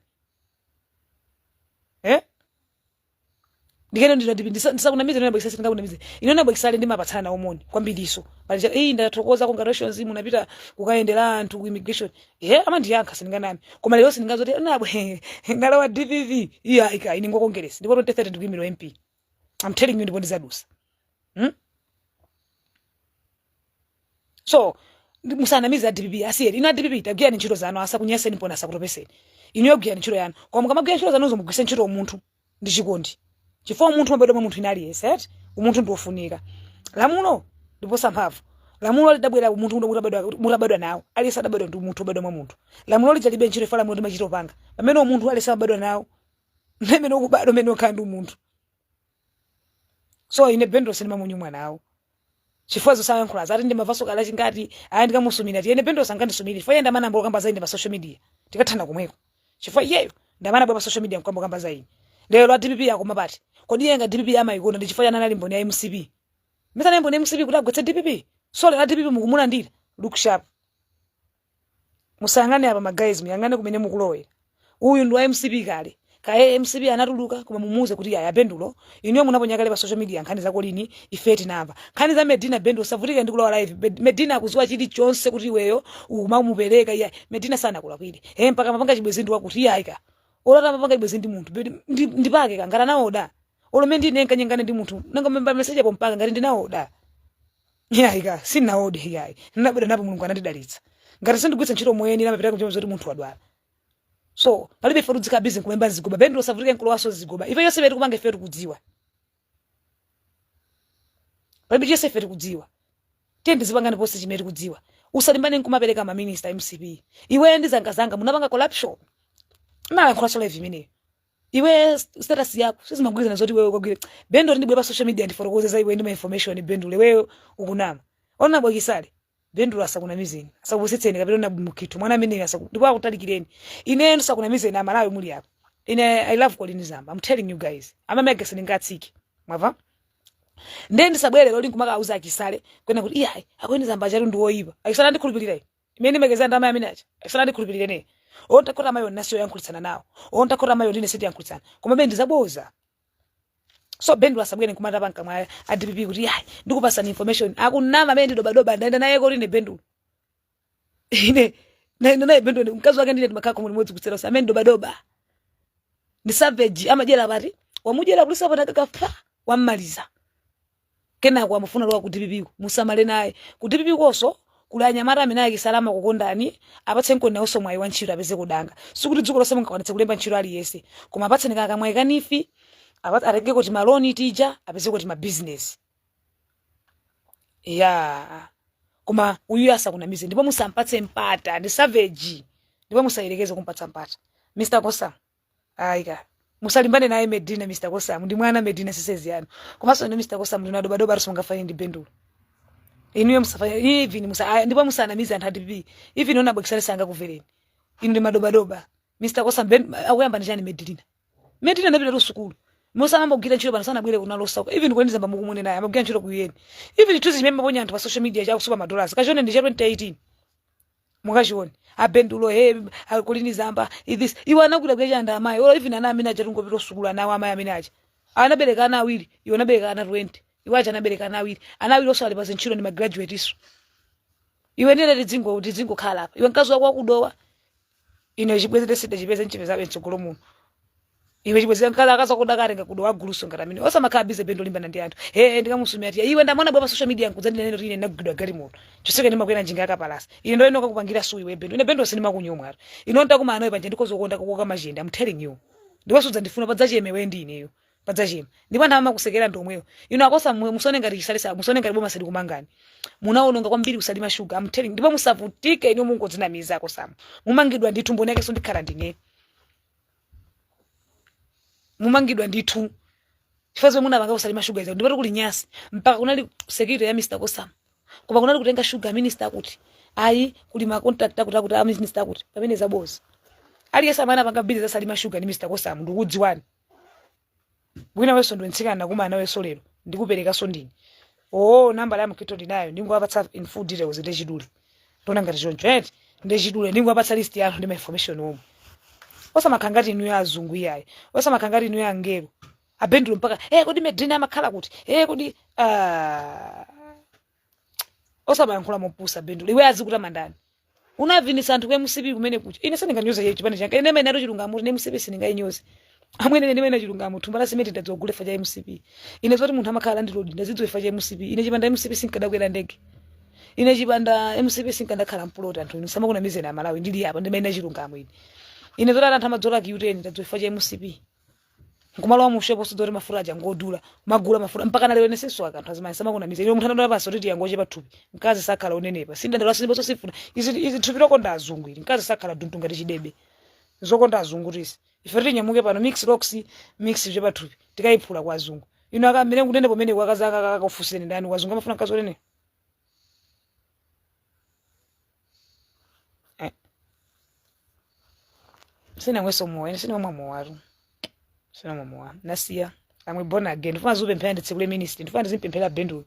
Eh? Ndikanene ndine wa DPP ndisa- ndisakunamizeni a bwana Chisale sindingakunamize. Ine ndi a bwana Chisale timapatsana moni kwambirinso. Pali cha eh ndathokoza congratulations munapita kukayendera anthu ku immigration. Eh amandiyankha sindinganame. Koma lero sindinganene zoti ndabwera ndakhala wa DPP. Iyayi ka ine ndi wa Congress. Ndipo 2030 ndikuimira MP. I'm telling you ndipo ndizadusa hmm? so ndi- musanamize a dpp asiyeni inu a dpp tagwirani ntchito zanu asakunyaseni bwana asakutopeseni inuyo gwirani ntchito yanu koma mukamagwira ntchito zanuzo mugwiritse ntchito umunthu ndi chikondi chifukwa umunthu umabadwa mwa munthu wina aliyense eti umunthu ndi wofunika lamulo ndiposa mphamvu lamulo lidabwera umunthu uno utabadwa- mutabadwa nawo aliyense adabadwa ndi umunthu obadwa mwa munthu lamulo lija lilibe ntchito chifukwa lamulo limachita kupanga pamene umunthu aliyense amabadwa nawo mmene ukubadwa mmene ukukhala ndi umunthu so ine ben longwe sindimayankhula nawo chifukwa zosayankhula zake ndimamvanso akulankhula ngati ayi ndikamusumira ti ine ben longwe sangandisumire chifukwa iye ndi amene anayamba kukamba za ine pa social media tikathana kumweko chifukwa iyeyo ndi amene anabwera pa social media nkuyamba kukamba za ine lero dpp yakoma pati kodi iye dpp amayikonda ndi chifukwa chani anali mboni ya mcp mesa anali mboni ya mcp kuti agwetse dpp so lero a dpp mukumulandira look sharp musayang'ane apa ma guys muyang'ane kumene mukulowera uyu ndi wa mcp kale kaye mcp anatuluka koma mumuuze kuti yaya bendulo inuyo munaponya kale pa social media nkhani za Kolini ife tinamva nkhani za medina bendulo usavutike ndi kulowa live Med- medina akuziwa chilichonse kuti iweyo umamupereka iya medina sanakulakwire e mpaka mapanga chibwezi ndi wakuti iyayi ka olo mapanga chibwezi ndi munthu Bedi- ndi- ndipake kangana nawoda olome ndinenkanyengana ndi munthu nanga memba message mpaka ngati ndinawoda iyayi ka sinaode iyayi ndinabadwa napo mulungu anandidalitsa ngati sindigwiritsa ntchito moyenera amapita kuchema zoti munthu wadwala so palibe ife tudzika busy nkumemba zigoba bendulo usavutike nkulowaso zigoba ife yonse beti kupanga ife tikudziwa palibe chonse ife tikudziwa tiyeni dzipangani ponse chimene tikudziwa usalimbane nkumapereka maminista mcp iweyo ndi zangazanga munapanga corruption nalankhulaso live imeneyo iwe status yako sizimagwirizana zoti iweyo ukagwire bendulo ndibwere pa social media ndifotokoze za iwe ndi ma information bendulo iweyo ukunama onabo akisale bendulo asakunamizeni asakupusitseni kapena na mukithu mwana amene asaku ndipo akutalikireni ine ndo sakunamizeni amalawi muli apa ine i love kolini zamba i'm telling you guys amamega sindingatsiki mwava ndiye ndisabwere loli nkumaka auza akisale kunena kuti iyayi akolini zamba chatu ndi woyipa akisale andikhulupirira ine imene ndimakezera ndalama amene aja akisale andikhulupirire ine onthakota amayo nasi oyankhulitsana nawo onthakota amayo ndine sitiyankhulitsana koma bene ndizaboza so bendulo asabwere nkumata pakamwa a dpp kuti yayi ndikupasani information akunama amene ndidobadoba ndaenda naye koti ine bendu ine ndaenda naye bendu ine mkazi wake ndine timakhala komwe limodzi kutsera usa amene ndidobadoba ndi savage amadyera pati wamudyera ku lisapata kakafa wammaliza kenako amafuna kulowa ku dpp ko musamale naye ku dpp koso kuli anyamata amene akisale amakukondani apatse nkoni nawoso mwayi wa ntchito apezeko danga sikuti dziko lonse mungakwanitse kulemba ntchito aliyese koma apatseni ka kamwayi kanifi apa- atengeko timaloni tija apezeko timabizinesi ya koma uyu asakunamize ndipo musampatse mpata ndi savage ndipo musayerekeze kumpatsa mpata mr kosamu ayi ka musalimbane naye medina mr kosamu ndi mwana medina si size yanu komanso ine mr kosamu ndi madobadoba oloso mungafanane ndi bendulo inuyo musafanya even musa aya, ndipo musanamize anthu a dpp even onabo akisale sangakumvereni inu ndi madobadoba mr kosamu ben akuyamba ndi chani medina medina anapita kusukulu musanayambe kugwira ntchito pano sanabwere kuno olo zako even kolini zamba mukumunenayo amagwira ntchito ku UN even tuzi chimene maponya anthu pa social media chakusupa madolars kachione ndi cha 2018 mukachione abendulo he akolini zamba this iwe anakwira kuya chanda amayi olo even ana amene aja angopita kusukulu ana awo amayi amene aja anabereka ana awiri iwe unabereka ana 20 iwe aja anabereka ana awiri ana awiri onse ali pa zintchito ndi magraduate iwo iwe ndine tidzingo tidzingokhala apa iwe mkazi wako wakuthawa ine chibwezi sindidachipeze nchipezabe mtsogolo muno iwe chibwenzi ankhala akaza kudakare ngakudo waguluso ngati amene osamakhala busy bendo limbana ndi anthu ee ndikamusumira ati iwe ndi amene unabwera pa social media nkudzandinena kuti ine ndinagulidwa galimoto chonsecho ndimakwera njinga yakapalasa ine ndiye ndikakupangira sue iwe bendo ine bendo sindimakunyomwa atu ine ntakumana nawe panja ndikhoza kukonda kukoka machende i'm telling you ndiwasudza ndifuna padzacheme iwe ndi ineyo padzacheme ndipo anthu amakusekera ndi omwewo inu a kosam musaone ngati chisalisa musaone ngati boma silikumangani munaononga kwambiri kusalima shuga i'm telling you. ndipo musavutike inu mungodzinamiza a kosam mumangidwa ndithu mboni yakenso ndikhala ndine mumangidwa ndithu chifukwa zomwe munapanga kusalima shuga izo ndipo ati kuli nyansi mpaka kunali security ya mr kosam koma kunali kutenga shuga minister akuti ayi kuli ma contract akuti akuti a minister akuti pamene zabodza aliyense amene anapanga bizinesi ya salima shuga ndi mr kosam ndikudziwani mwina iwenso ndiwe mtsikana nakumana nawenso lero ndikuperekanso ndine oo nambala ya mukhito ndinayo ndingowapatsa in full details ndi chidule ndona ngati choncho eti ndi chidule ndingowapatsa list ya anthu ndi ma information omwe osamakhala ngati inu ya azungu iyayi osamakhala ngati inu ya angelo abendulo mpaka eh kodi medina amakhala kuti eh kodi ah osamayankhula mopusa bendulo iwe azikutama ndani unavinitsa anthu ku mcp kumene kuja ine sindinganyoze iye chipani changa ine ndinene atu chilungamo ine mcp sindingayinyoze amwene ine ndinene chilungamo thumba la simenti ndadzagula chifukwa cha mcp ine zoti munthu amakhala ndi lodge ndazidziwa chifukwa cha mcp ine chipanda mcp sinkadakwera ndege ine chipanda mcp sinkadakhala mpuloti anthu inu asamakunamizeni amalawi ndili apa ndinene chilungamo ine ine zoti anthu amadzola q10 ndadziwa chifukwa cha mcp nkumalowa mushopu osadziwa kuti mafuta aja ngodula magula mafuta mpaka nalero ine sindisowa kanthu azimayi asamakunamizeni munthu anadula pasi kuti tiyango chepa thupi mkazi sakhala onenepa sindandala siniponso sifuna izi izi thupi lokonda azungu ili mkazi sakhala duntu ngati chidebe zokonda azungu ndi izi ife tinyamuke pano mix rocks mix chepa thupi tikayiphula kwa azungu inu akamene kunenepa kumeneko akazi akakakufunsireni ndani kwa azungu amafuna mkazi onene Eh. sinamwenso mowa ine sinamwa mowatu sinamwa mowa nasiya amwene born again ndifuna ndizipemphera nditsekule ministry ndifuna ndizimpemphera bendulo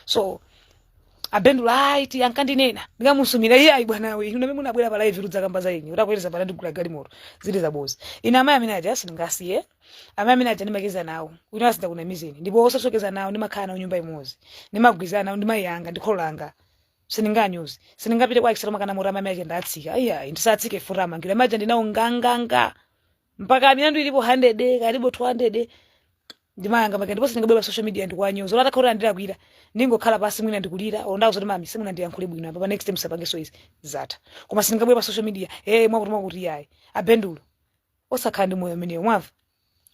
so abendulo ayi ati ankandinena ndikamusumira iye ayi bwana we inu amene munabwera pa live kudzakamba za ine utakwereza pana ndigula galimoto zili zabodza ine amayi amene aja sindingasiye amayi amene aja ndimacheza nawo ine asamakunamizeni ndipo osatinso kucheza nawo ndimakhala nawo nyumba imodzi ndimagwirizana nawo ndi mayi anga ndi kholo langa sindinganyoze sindingapite kwa ekisalo makana murama mai ake ndatsika iyayi ndisatsike furama ngire amayi aja ndinawo nganganga mpaka milandu ilipo 100 kaya ilipo 200 ndi mayi anga make ndipo sindingabwera pa social media ndikuwanyoza olo atakhala kuti andilakwira ndingokhala pansi mwina ndikulira olo ndiwauze kuti mami simunandiyankhule bwino apa pa next time musapangenso izi zatha koma sindingabwera pa social media eh mwakuti mwakuti iyayi abendulo osakhala ndi moyo umenewo mwamva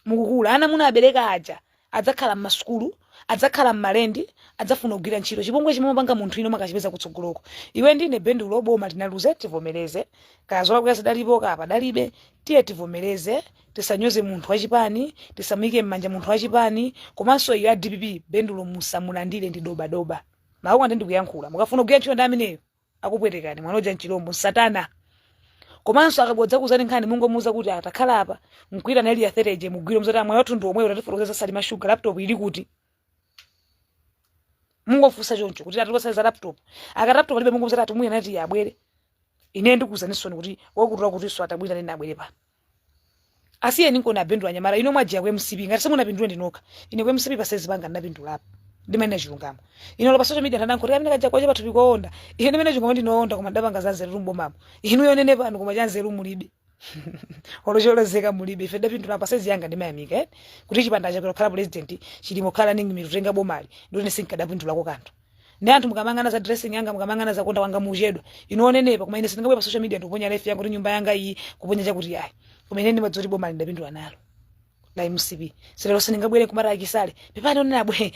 mukukula ana munabereka aja adzakhala mmasukulu adzakhala mmalendi adzafuna kugwira ntchito chipongwe chimamapanga munthu inu mukachipeza kutsogoloko iwe ndine bendulo boma tinaluze tivomereze kaya zolakwika zidalipo kaya padalibe tiye tivomereze tisanyoze munthu wachipani tisamuyike mmanja munthu wachipani komanso inuyo a dpp bendulo musamulandire ndi dobadoba mawu amene ndikuyankhula mukafuna kugwira ntchito ndi ameneyo akupwetekani mwana uja nchilombo nsatana komanso akabodza kuzani nkhani mungomuuza kuti atakhala apa mkwira nali ya 30 je mugwiro mzati amwe anthu ndi omwewo tatifotokozera za salima sugar laptop ili kuti mungofunsa choncho kuti atipasa za laptop aka laptop alibe mungomuuza ati mwiya nati abwere ine ndikuuzaninso kuti wakutola kuti so atabwera nene abwere pa asiyeni nkona a bendulo anyamata inu mwajiya ku mcp ngati simunapindule ndi nokha ine ku mcp pa size panga ndinapindulapo ndimanena chilungamo inu olo pa social media ndanenako kuti amene kaja kwache pathupi koonda ine ndimanena chilungamo ndinoonda koma ndapanga za nzeru mbomamo inuyo onenepanu koma cha nzeru mulibe olo cholozeka mulibe ine ndapindula pa size yanga ndimayamika eh? kuti chipanda chakwera president chilima kukhala running mate kutenga bomali ndoti sinkadapindulako kanthu ndi anthu mukamangana za dressing yanga mukamangana za kuonda kwanga muchedwa inu onenepa koma ine sindingabwere pa social media ndikuponya life yanga kuti nyumba yanga iyi kuponya chakuti yayi koma ine ndimadziwa kuti bomali ndapindula nalo la mcp so lero sindingabwere kumati a chisale pepani onena bwe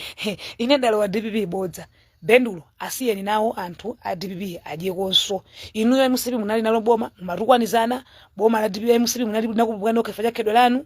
ine ndalowa dpp bodza bendulo asiyeni nawo anthu a dpp adyekonso inuyo mcp munali nalo boma mumatukwanizana boma la dpp mcp munali nakupukana okhefa chakhedwe lanu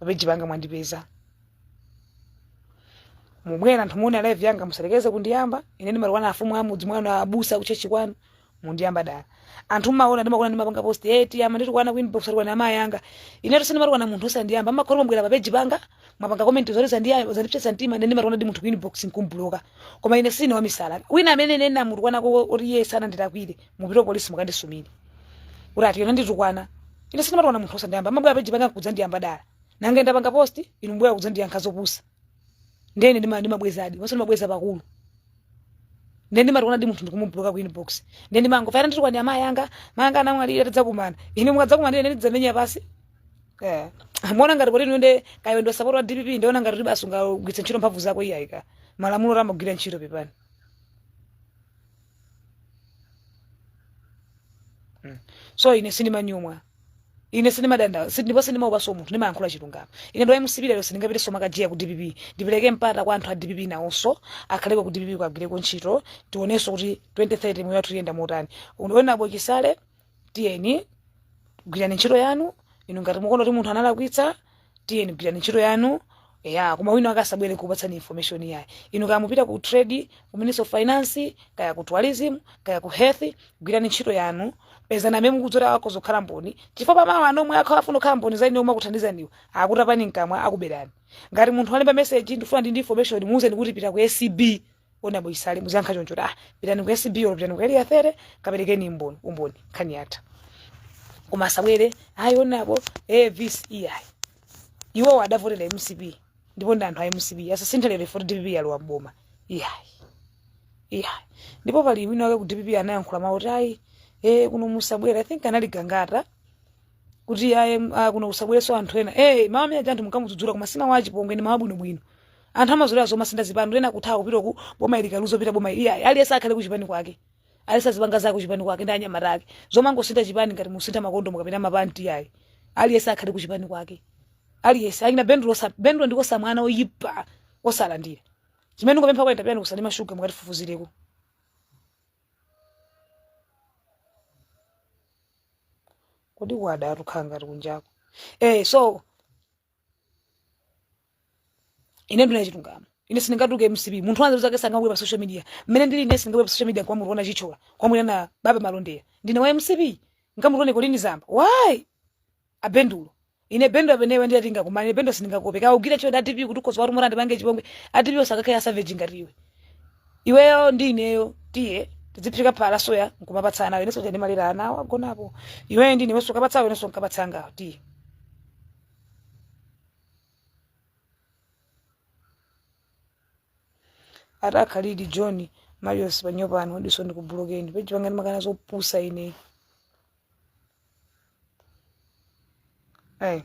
papeji panga mwandipeza mubwera anthu muone live yanga musayerekeze kundiyamba ine ndimatukwana afumu amudzi mwanu abusa kuchechi kwanu mundiyamba dala anthu mmaona ndimakona ndimapanga post eti amanditukwana ku inbox atukwana amayi anga ine sindimatukwana munthu osandiyamba amakhala mwabwera papeji panga mwapanga comment zoti zandiyamba zandipsetsa mtima ine ndimatukwana ndi munthu ku inbox nkumubloka koma ine sine wamisala wina amene ine ndinamutukwanako oti iye sanandilakwire mupite polisi mukandisumire kuti ati yona wanditukwana ine sindimatukwana munthu osandiyamba mmabwera pa peji panga kudzandiyamba dala nanga ndapanga post inu mbwera kudzandiyankha zopusa ndene ndima ndimabwezadi onse ndimabweza pakulu ndene ndimatukwana ndi munthu ndikumubloka ku inbox ndene ndimango fayana nditukwana ndi amayi anga mayi anga anamwalira tidzakumana ine mukadzakumana ndi ine ndidzamenya basi Eh, muona ngati kuti nunde kayo ndo support wa DPP ndiona ngati kuti basi ungagwiritsa ntchito mphamvu zako iyayi ka malamulo amagwira ntchito pepani Mm. so ine sindimanyumwa ine sindimadanda si- ndipo sindimaopaso munthu ndimayankhula chilungamo ine ndo mcp lero sindingapiteso makajiya ku dpp ndipereke mpata kwa anthu a dpp nawonso akhaleko ku dpp akagwireko ntchito tionenso kuti 2030 moyo wathu uyenda motani unabonapo chisale tiyeni gwirani ntchito yanu inu ngati mukuona kuti munthu analakwitsa tiyeni gwirani ntchito yanu ya koma wina akasabwere kupatsani information yayi inu kaya mupita ku trade ku ministry of finance kaya ku tourism kaya ku health gwirani ntchito yanu pezani amene mukudziwa akhoza kukhala mboni chifukwa pamawa anthu omwe akhawa afuna kukhala mboni za ine omwe akuthandizaniwo akutapani mkamwa akuberani ngati munthu walemba message ndifuna ndi ndi information muuzeni kuti pita ku acb honourable chisale muziyankha choncho kuti pitani ku acb or pitani ku area 30 kaperekeni umboni umboni nkhani yatha koma asabwere ayi honourable eh visi iyayi iwowo adavotera mcp ndipo ndi anthu a mcp asasinthe lero poti dpp yalowa mboma iyayi iyayi ndipo pali wina wake ku dpp anayankhula mawu kuti ayi eh kuno musabwere i think anali gangata kuti aye ah, kuno kusabwerenso anthu ena eh mawu amene anthu munkamudzudzula koma si mawu achipongwe ndi mawu bwinobwino anthu anazolowera zomasintha zipani ena kuthawa kupita ku boma ili likaluza kupita boma ili ayi aliyense akhale kuchipani kwake aliyense azipanga zake kuchipani kwake ndi anyamata ake zomangosintha chipani ngati musintha makondomu kapena mapanti ayi aliyense akhale kuchipani kwake aliyense akina bendulo sa bendulo ndiko samwana oyipa osalandira chimene ndikupempha kwa interplan ku salima sugar mukatifufuzireko kodi kwada atukhala ngati kunjako eh so ine ndinene chilungamo ine sindingatuke mcp munthu wanzeru zake sangabwere pa social media mmene ndili ine sindingabwere pa social media kumamutukwana chithyola kumamutukwana baba malondera ndine wa mcp nkamutukwane colleen zamba why abendulo ine bendo amene iwe ndiye tingakumane bendo sindingakuope kaugire choti a dpp kuti ukhoza wati umati andipange chipongwe a dpp osakakhala a savage ngati iwe iweyo ndi ineyo tiye tidziphika phala soya nkumapatsa anawo inenso ndimalira anawo agonapo iweyo ndi inewenso ukapatsawo inenso nkapatsa angawo tiye atakhaladi john marius panyopano diso ndikubulokeni peji panga ndimakana zopusa ineyi Ayi.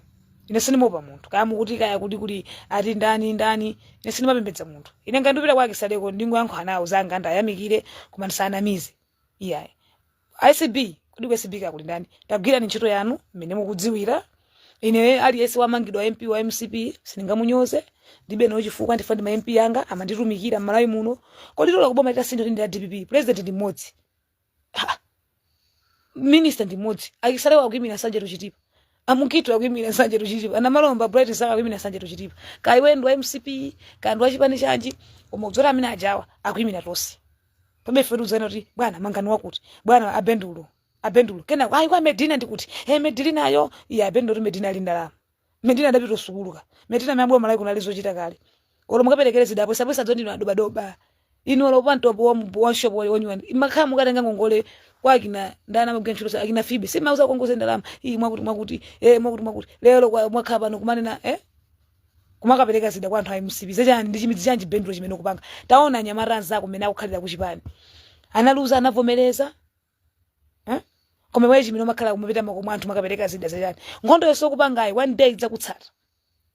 ine sindimaopa munthu kaya mukuti kaya kuti kuli ati ndani ndani ine sindimapembedza munthu ine ngati ndipita kwa chisaleko ndingoyankhula nawo zanga ndiwayamikire koma ndisawanamize iyayi acb kodi ku acb kaya kuli ndani tagwirani ntchito yanu mmene mukudziwira ine aliyense wamangidwa mp wa mcp sindingamunyoze ndilibe nawo chifukwa chifukwa ndi ma mp anga amanditumikira mmalawi muno kodi tola kuboma litasintha ndi la dpp president ndi mmodzi Ha! minista ndi mmodzi a chisalewa akuimira nsanje to chitipa a mukhito akuimira nsanje to chitipa a namalomba bright msaka akuimira nsanje to chitipa kaya iwe ndi wa mcp kaya ndi wa chipani chanji koma udziwe kuti amene ajawa akuimira tonse pamene ife tikuuzana kuti bwana mangani wakuti bwana abendulo abendulo kenako ayi kwa medina ndikuti e medinayo iye abendulo kuti medina ali ndalama Medina adapita sukulu ka. Medina amabwera Malawi kuno ali zochita kale. Olo mukaperekere zida apo sabwesa dzondino adoba doba. Inu olo pa mtopo wa mbu- wa shop wa onyiwa. Makhala mukutenga ngongole kwa akina ndana magwira ntchito sa akina Phoebe. Si mauza kongoze ndalama. Iyi mwakuti mwakuti. Eh mwakuti mwakuti. Lero kwa mwakhala pano kumanena eh kumakapereka zida kwa anthu a mcp zachani ndi chimidzi chanji bendulo chimene ukupanga taona anyamata anzako mmene akukhalira kuchipani analuza anavomereza koma iweyo chimene umakhala kumapita mmakomo mwa anthu makapereka zida zachani nkhondo yonse ukupangayi one day idzakutsata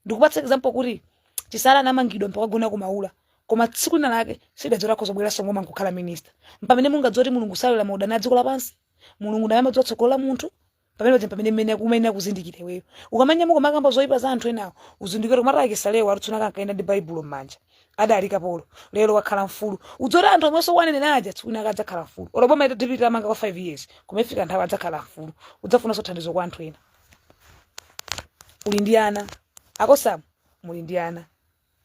ndikupatsa example kuti chisale anamangidwa mpaka kagona ku maula koma tsiku lina lake sudadziwe kuti akhoza kubweranso m'boma nkukhala minister mpamene ungadziwe kuti mulungu salola maudani a dziko lapansi mulungu ndiye amadziwa tsogolo la munthu pamene udze pamene mmene umayenera kuzindikira iweyo ukamanyamuka kumakamba zoyipa za anthu enawo uzindikire kuti mata chisalewa alutsuna ankaenda ndi baibulo mmanja adali kapolo lero wakhala mfulu udziwe kuti anthu omwenso wanenera aja tsiku lina adzakhala mfulu olo boma ita dpp itawamanga kwa 5 years koma ifika nthawi adzakhala mfulu udzafunanso thandizo kwa anthu ena uli ndi ana akosamu muli ndi ana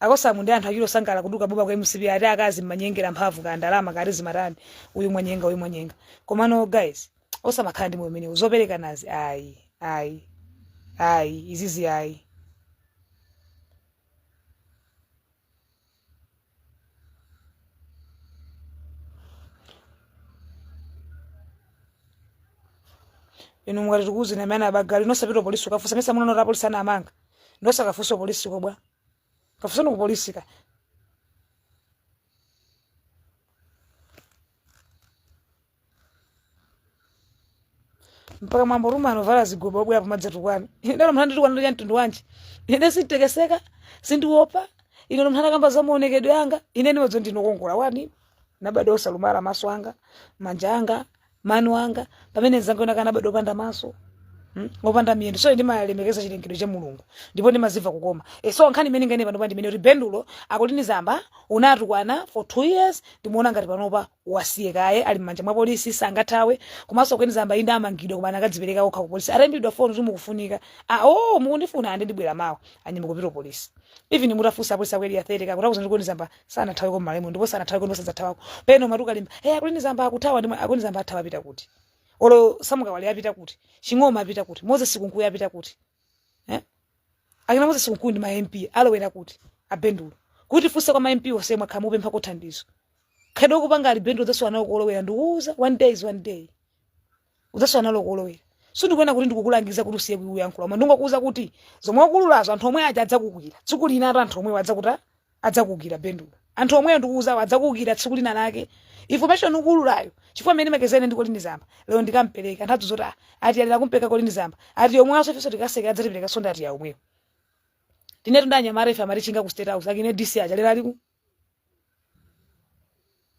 Akosamu ndi anthu achule osangalala kutuluka boma kwa mcp ati akazi mumanyengela mphamvu kaya ndalama kaya ati zimatani uyu mwanyenga uyu mwanyenga komano guys osamakhala ndi moyo umenewu zopelekanazi ayi ayi ayi izizi ayi inu mukati tikuuzeni amene abagala inu osapita polisi ukafusa mesa mukunena kuti apolisi anawamanga nde osakafusa polisi ko bwa kafuseni ku polisi ka mpaka mwambo rumwe anovala zigoba obwera pamadzatukwana ine olo munthu anditukwana ndi chamtundu wanji ine sinditekeseka sindiopa ine olo munthu atakamba za maonekedwe anga ine ndimadziwa kuti ndinokongola one ndinabadwa osalumala maso anga manja anga mano anga pamene mzanga wina wake anabadwa opanda maso mm, opanda miyendo so ndimalemekeza chilengedwe cha mulungu ndipo ndimazimva kukoma e, so nkhani imene ndinganene panopa ndinene kuti bendulo a colleen zamba unatukwana for two years ndimuona ngati panopa wasiye kaye ali m'manja mwa polisi sangathawe komanso colleen zamba inde amangidwa koma anakadzipereka okha ku polisi ataimbidwa foni kuti mukufunika ah, oh, mukundifuna ande ndibwera mawa anyimba kupita ku polisi even mutafunsa apolisi a ku area 30 akutha kukuuza kuti colleen zamba sanathaweko malawi muno ndipo sanathaweko ndipo sadzathawako pena umati ukalimba hey, a colleen zamba akuthawa ndimwe a colleen zamba athawa apita kuti olo sam kawale apita kuti ching'oma apita kuti moses kunkuyu apita kuti eh? akina moses kunkuyu ndi ma mp alowera kuti abendulo kuti funse kwa ma mp onse mwakhala mukupemphako thandizo khalidwe ukupangali bendulo zonse wanawo kolowera ndikuuza one day is one day udzasowa nalo kolowera sindikunena kuti ndikukulangiza kuti usiye kuyankhula koma ndingokuuza kuti zomwe ukuululazo anthu omwe aja adzakukwira tsiku lina ati anthu omwewo adzakuta adzakukwira bendulo anthu omwewo ndikuuzawo adzakukwira tsiku lina lake information ukuululayo chifukwa mmene makezene ndi kolini zamba lero ndikampereka anthu adzozoti "Ah, ati alira kumpereka kolini zamba ati yomwe aso ifenso tikaseka adzatipereka sonda ati ya omwewo tinetu ndi anyamata ife amatitchinga ku state house akina dc aja lero aliku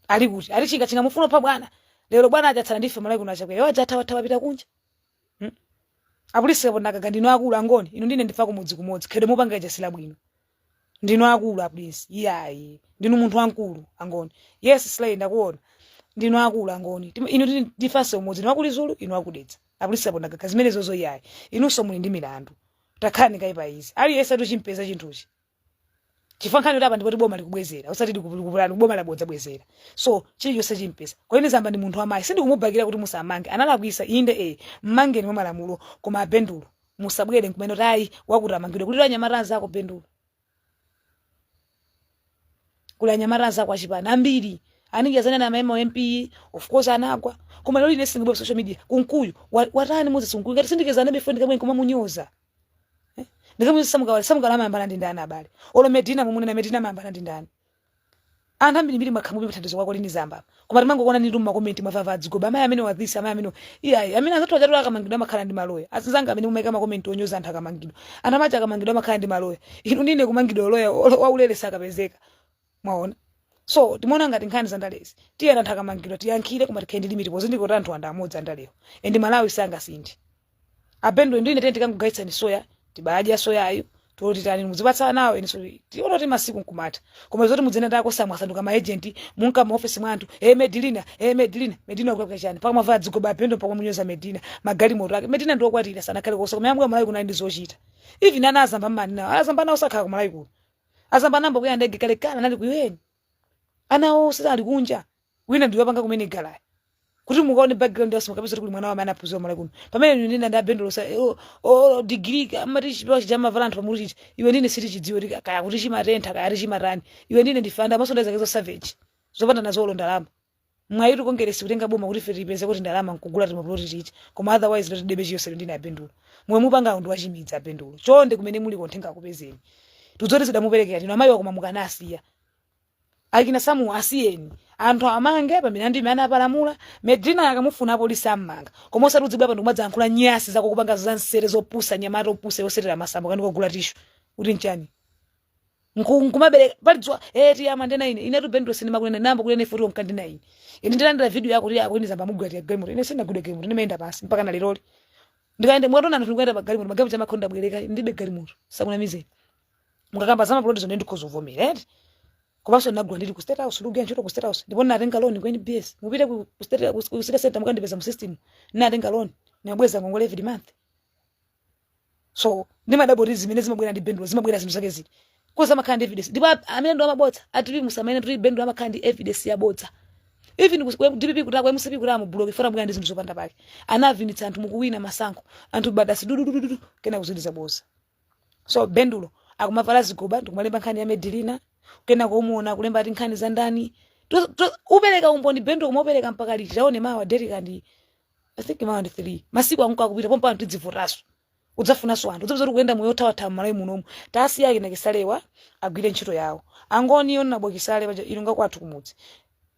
ali kuti ali chinga chinga mufuna pa bwana lero bwana aja atsala ndife malawi kuno achakwera aja athawa thawa apita kunja hmm? apolisi kapo ndakaga ndinu akulu angoni inu ndi ine ndife a kumudzi kumodzi khedo mupanga ija sila bwino ndinu akulu apolisi iyayi ndinu munthu wankulu angoni yes slay ndakuona ndinu akulu angoni Tim- inu ndi ine ndifase umodzi ndinu akulu zulu inu akudetsa apolisi kapo ndakaga zimene zozo iyayi inunso muli ndi milandu takhalani kaye pa easy aliyense atochimpeza chinthuchi chifukwa nkhani yoti apa ndi poti boma likubwezera osati likupulani boma labodza bwezera so chilichonse chimpeza kolini zamba ndi munthu wamayi sindikumubakira kuti musammange analakwisa inde e mmangeni mwa malamulo koma abendulo musabwere nkumanena kuti ayi wakuti amangidwe kuti anyamata anzako bendulo kuli anyamata anzako achipani ambiri aninja zanena amaema wa mp of course anagwa koma lero ine singibwe social media kunkuyu wa- watani moses kunkuyu ngati sindikezana befriend kamwe nkumamunyoza Eh? Ndikamu Sam Kawale Sam Kawale amayambana ndi ndani abale. Olo Medina mumunena Medina amayambana ndi ndani. Anthu ambiri mbiri makhamu pita thandizo kwa kolini zamba. Koma timangokuona ndi tuma comment mavava adzigoba amayi amene wa this amayi amene. Iyayi amene azathu ajatu akamangidwa amakhala ndi maloya. Azinzanga amene mumaika ma comment onyoza anthu akamangidwa. Anthu amacha akamangidwa amakhala ndi maloya. Inu ndi ine kumangidwa loya waulere sakapezeka. mwaona so timaona ngati nkhani za ndalezi tiyeni anthu akamangidwa tiyankhule koma tikhale ndi limiti pozindikira kuti anthuwa ndi amodzi andalewo and malawi sangasinthe abendulo ndine tene tikangogayitsani soya tibadya soyayo toti tani muzipatsa nawo eniso tiona kuti masiku nkumatha koma zoti mudzina ndako samwasanduka ma agent munka mu office mwa anthu eh medina eh medina medina akulakwira chani mpaka mavala dzigoba abendulo mpaka munyoza medina magalimoto ake medina ndi wokwatira sanakhale kosa koma yamwe malawi kuno ndi zochita even ana azamba mumanenawo azamba nawo sakhala ku malawi kuno azamba anayamba kuyenda ndege kale kale anali ku UN ana onse ali kunja wina ndiwe apanga kumene galaya kuti mukaone background yawo mukapeza kuti kuli mwana wamene anaphunzira malawi kuno pamene inu ndi ine ndi abendulo sa o degree amati chipewa chija amavala anthu pamutu chiti iwe ndi ine sitichidziwa kuti kaya kuti chimatentha kaya kuti chimatani iwe ndi ine ndifanda maso ndazake za savage zopanda nazo olo ndalama mwayitu kongeresi kutenga boma kuti ife tipeze kuti ndalama nkugula timapuloti titi koma otherwise loti debe chiyosero ndiye abendulo zomwe mupanga awo ndi wachimidzi abendulo chonde kumene muliko uthenga ukupezeni tudzoti zidamuperekera tino amayiwa koma mukanasiya akina samu asiyeni anthu amange pamene ndime anapalamula medina akamufuna apolisi ammanga koma osati udzibwera pano kumadzayankhula nyasi zako kupanga zansere zopusa nyamata opusa yosetera masambo kani kogula tishu kuti nchani Nku- nkumabereka pali dzuwa eh Tiya amandinena ine inetu Bendulo sindimakunena namba kunena ife tiwo mkandi na ine ine ndilandira video yako kuti a Colleen Zamba amugulira Tiya galimoto ine sindinagule galimoto ndimayenda pansi mpaka na leroli ndikayende mwatona anthu ndikuyenda pa galimoto magalimoto amakhala ndabwereka ndibe galimoto asakunamizeni mukakamba za mapulotizo nde ndikhoza kuvomera eti komanso ndinagula ndili ku state house ndikugwira ntchito ku state house ndipo ndinatenga loan ku nbs mupite ku ku state ku- ku city center mukandipeza mu system ndinatenga loan ndinabweza ngongole every month so ndimadabwa kuti zimene zimabwera ndi bendulo zimabwera zinthu zake ziti kozi amakhala ndi evidence ndipo a- amene ndo amabodza atili musamene kuti bendulo amakhala ndi evidence yabodza even ku- ku dpp kutako mcp kuti amubuloke fora mukuyana ndi zinthu zopanda pake anavinitsa anthu mukuwina masankho anthu badasi dududududu kena kuziliza bodza so bendulo akumavala zigoba ndikumalemba nkhani ya medilina kena kumuona akulemba ati nkhani za ndani To- to- upereka umboni bendulo kumapereka mpaka liti taone mawa derika ndi i think mawa ndi 3 masiku akunka akupita pompa anthu tidzivotaso udzafunaso anthu udzapeza kuti kuyenda moyo othawathawa mmalawi munomu tasiyani akina Chisalewa agwire ntchito yawo angoni honourable Chisale paja ilunga kwathu kumudzi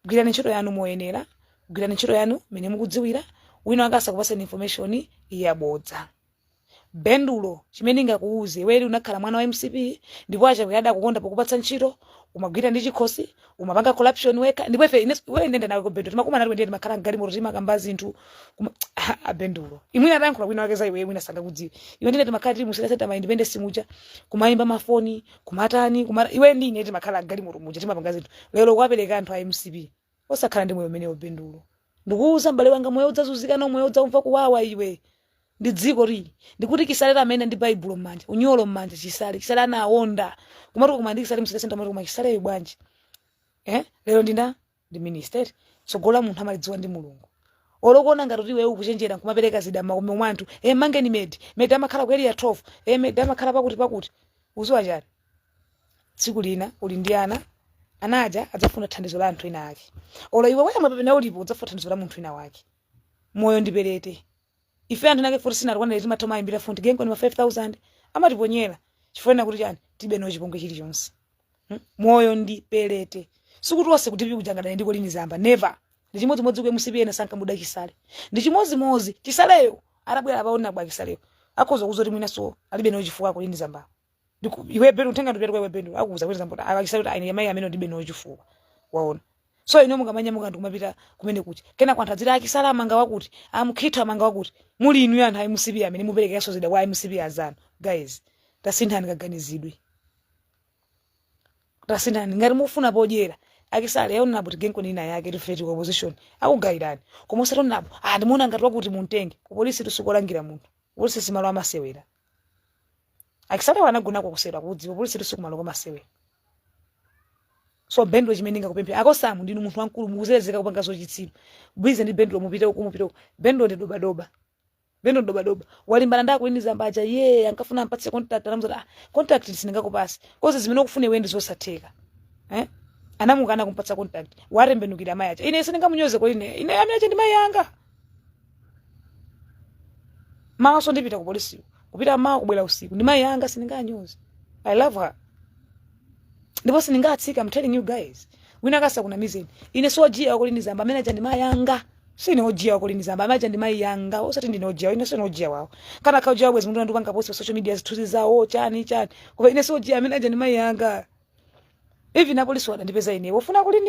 gwirani ntchito yanu moyenera gwirani ntchito yanu mmene mukudziwira wina wake asakupaseni information yabodza Bendulo chimene ndingakuuze iweyo lero unakhala mwana wa mcp ndipo achakwera adakukonda pokupatsa ntchito umagwira ndi chikhosi umapanga corruption wekha ndipo ife ine- iweyo ndenda nawe kubendulo timakumana nawe ndiye timakhala mgalimoto timakamba zinthu kuma- a bendulo mwina atayankhula wina wake za iweyo mwina sangakudziwe iwe ndine timakhala tili mu city center ma independence muja kumayimba mafoni kumatani kumata iwe ndine timakhala mgalimoto muja timapanga zinthu lero kuwapereka anthu a mcp Osakhala ndi moyo umenewo Bendulo. Ndikuuza mbale wanga moyo udzazunzika nawo moyo udzaumva kuwawa iwe. Ndi dzikoli. Ndikuti chisale la amene ndi Baibulo mmanja, unyolo mmanja chisale, chisale anawonda. Kumati koma ndi chisale mu city center kumati koma Chisaleyu bwanji. Eh? Lero ndina ndi minister. Tsogolo la munthu amalidziwa ndi Mulungu. Olo ukuona ngati kuti iwe ukuchenjera nkumapereka zida mmakomo mwa anthu. Eh mangeni medi. Medi amakhala ku area 12. Eh medi amakhala pakuti pakuti. Ukudziwa chani? tsiku lina uli ndi ana ana aja adzafuna thandizo la anthu ena ake olo iwe wemwe pamene ulipo udzafuna thandizo la munthu wina wake moyo ndi pelete ife anthu nake futi sinatukwanire timatha kumayimbira futi genkoni ma 5000 amatiponyera chifukwa ena kuti chani tibe nawo chipongwe chilichonse Hmm? moyo ndi pelete sikuti wonse kuti pikujangadane ndi Colleen Zamba never ndi chimodzimodzi ku mcp ena sankamuda chisale ndi chimodzimodzi chisaleyo atabwera apa honourable chisaleyo akhoza kuzoti mwinaso alibe nawo chifukwa Colleen Zamba Ndiku- iwe Bendulo utenga ndupita kwa iwe Bendulo akuuza kuti Zamba akakisa kuti aine mai amene ndibe nawo chifukwa waona so ino mukumanyamuka ndikumapita kumene kuti kenako anthu adzira a Chisale amanga wakuti a Mukhito amanga wakuti muli inu anthu a MCP amene muperekeranso zida kwa MCP azanu guys tasinthani kaganizidwe tasinthani ngati mufuna podyera a Chisale yaonera kuti genko nina yake tifeti ku opposition akugayirani koma usatonapo ah ndimuona ngati wakuti muntenge kupolisitu si kolangira munthu polisi simalo a masewera a chisalewa anagonako ku cell akudziwa polisitu si kumalo komasewera so bendulo chimene ndingakupemphe akosamu ndinu munthu wamkulu mukuzerezeka kupanga zauchitsiru busy ndi bendulo mupite uku mupite uku bendulo ndi dobadoba bendulo ndi dobadoba walimbana ndi a colleen zamba aja iye ankafuna ampatse contract anamuzati ah contract sindingakupatse coz zimene ukufuna iwe ndi zosatheka eh anamukana kumpatsa contract watembenukira amayi aja ine sindingamunyoze colleen ine amayi aja ndi mayi anga mawanso ndipita ku polisi kupita mawa kubwera usiku ndi mayi anga sindinganyoze i love her ndipo sindingatsika i'm telling you guys wina asakunamizeni ine si ojiya wa colleen zamba amene aja ndi mayi anga sine ojiya wa colleen zamba amene aja ndi mayi anga osati ndine ojiya ine sine ojiya wawo kanakha ojiya bwezi munthu ndikupanga post pa social media zithunzi zawo chani chani koma ine si ojiya amene aja ndi mayi anga even apolisi adandipeza ine wofuna colleen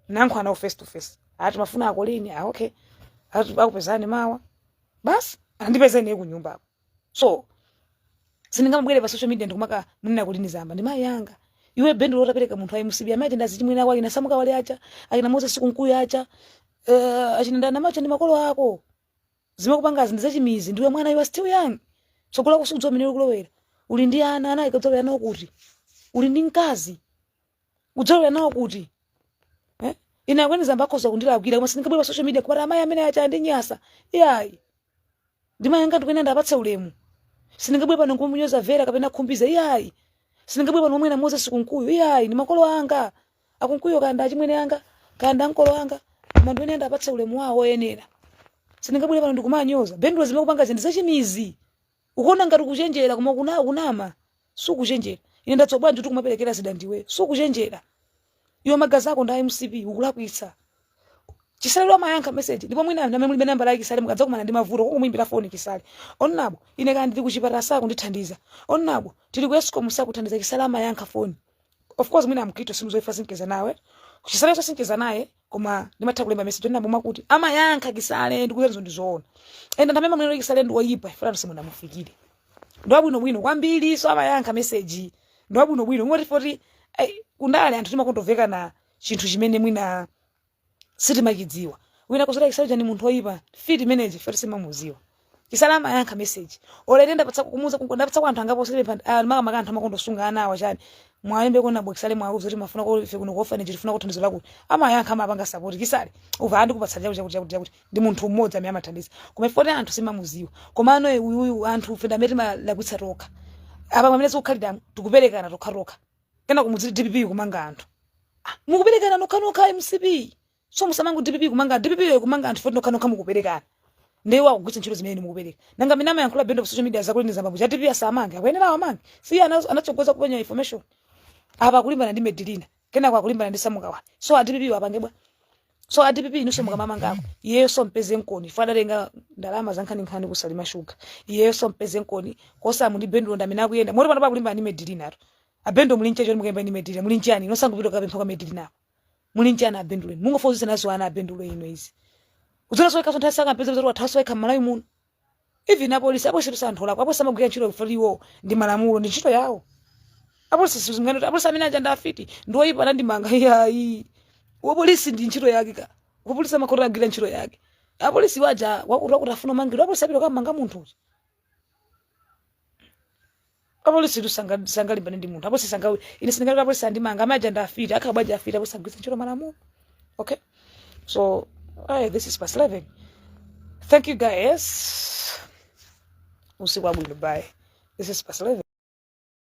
ndikumane nawo face to face ati mumafuna a colleen ah, okay ati akupezani mawa basi andipezeni kunyumbako so sindingabwere pa social media ndikumakamunena colleen zamba ndi mayi anga iwe bendo lotapereka munthu ayi musibi amati ndi azichimwene ako a sam kawale aja akina moses kunkuyu aja uh, eh, a chimwendo amene aja ndi makolo ako zimene ukupangazi ndi zachimidzi ndiwe mwana you are still young tsogolo lako sudziwa mmene likulowera uli ndi ana ana udzalowera nawo kuti uli ndi mkazi udzalowera nawo kuti eh? ine a colleen zamba akhoza kundilakwira koma sindingabwere pa social media kumati amayi amene aja andinyasa iyayi ndi mayi anga ndikuyenera ndiwapatse ulemu sindingabwere pano nkumunyoza vera kapena khumbize iyayi sindingabwere pano kumunena moses kunkuyu iyayi ndi makolo anga a kunkuyu kaya ndi achimwene anga kaya ndi ankolo anga koma ndikuyenera ndiwapatse ulemu wawo oyenera sindingabwere pano ndikumanyoza bendulo zimene ukupangazi ndi zachimidzi ukuona ngati ukuchenjera koma ukuna ukunama sukuchenjera ine ndadziwa bwanji kuti kumaperekera zida ndiwe sukuchenjera iwe magazi ako ndi a mcp ukulakwitsa chisale amayankha message ndipo mwina anthu amene mulibe nambala ya chisale mukadzakumana ndi mavuto kumuimbira foni chisale honourable ine kaya ndili kuchipatala sakundithandiza honourable tili ku escom sakuthandiza chisale amayankha foni of course mwina ambiritu simudziwa chifukwa sincheza naye chisale so sincheza naye koma ndimatha kulemba message yonena momwe kuti amayankha chisale ndikunenazo ndi zoona enda ndamema mwenero chisale ndi oyipa chifukwa simunamufikire ndi wabwino bwino kwambiri so amayankha message ndi wabwino bwino kungoti poti ai, kundale anthu timakontoveka na chinthu chimene mwina sitimachidziwa wina kusala chisale chani munthu oyipa mfiti manager poti sitimamudziwa chisale amayankha message olo ine ndapatsa kumuza kungo ndapatsa kwa anthu angapo especially makamaka anthu amakonda kusunga ana awa chani mwayimba kwa honourable chisale mwauza kuti mumafuna kuti ife kuno ku orphanage tifuna thandizo lakuti amayankha amapanga support chisale umva ati ndikupatsa chakuti chakuti chakuti chakuti ndi munthu mmodzi amene amathandiza koma ife poti anthu sitimamudziwa koma ano uyu uyu anthu ife ndi amene timalakwitsa tokha apa pamene tikukhalira tikuperekana tokha tokha kenako mudziti dpp ikumanga anthu Ah, mukuperekana nokha nokha mcp so musamango dpp kumanga dpp iyo kumanga anthu foti nokhanokha mukuperekana ndiye akugwiritsa ntchito zimene inu mukupereka nanga mmene amayankhula bendo pa social media zakuti ndi zambambo za dpp asamange akuyenera awamange si ana- anatsogoza kupereka information apa akulimbana ndi medilina kenako akulimbana ndi samukawa so a dpp apange bwa so a dpp inunso mukamumangeko iyeyo sam'peza nkoni iye adatenga ndalama zankhaninkhani kusalima shuga iyeyo sam'peza nkoni kosamu ndi bendo ndi amene akuyenda moti pano akulimbana ndi medilina ato abendo muli nchecho mukulimbana ndi medilina muli nchani inu osangopita kapempha kwa medilina apo muli nji ana a bendo inu mungofotokoza nazo ana a bendo inu izi mudzaona soika sangam'peze kuti wathawa soika mmalawi muno even apolisi apolisi kuti anthu olakwa apolisi amagwira ntchito kumfa iwo ndi malamulo ndi ntchito yawo apolisi sindinena kuti apolisi amene aja ndi afiti ndi oyipa anandimanga iyayi wapolisi ndi ntchito yake ka wapolisi amakhala agwira ntchito yake apolisi aja wakuti wakuti afuna amangidwe apolisi apita kukamanga munthu uja apolisi tu sanga- sangalimbane ndi munthu apolisi sangawe ine sindingati apolisi andimanga amene aja ndi afiti akhala bwanji afiti apolisi agwiritsa ntchito malamulo okay so aye this is past 11 thank you guys usiku wabwino bye this is past 11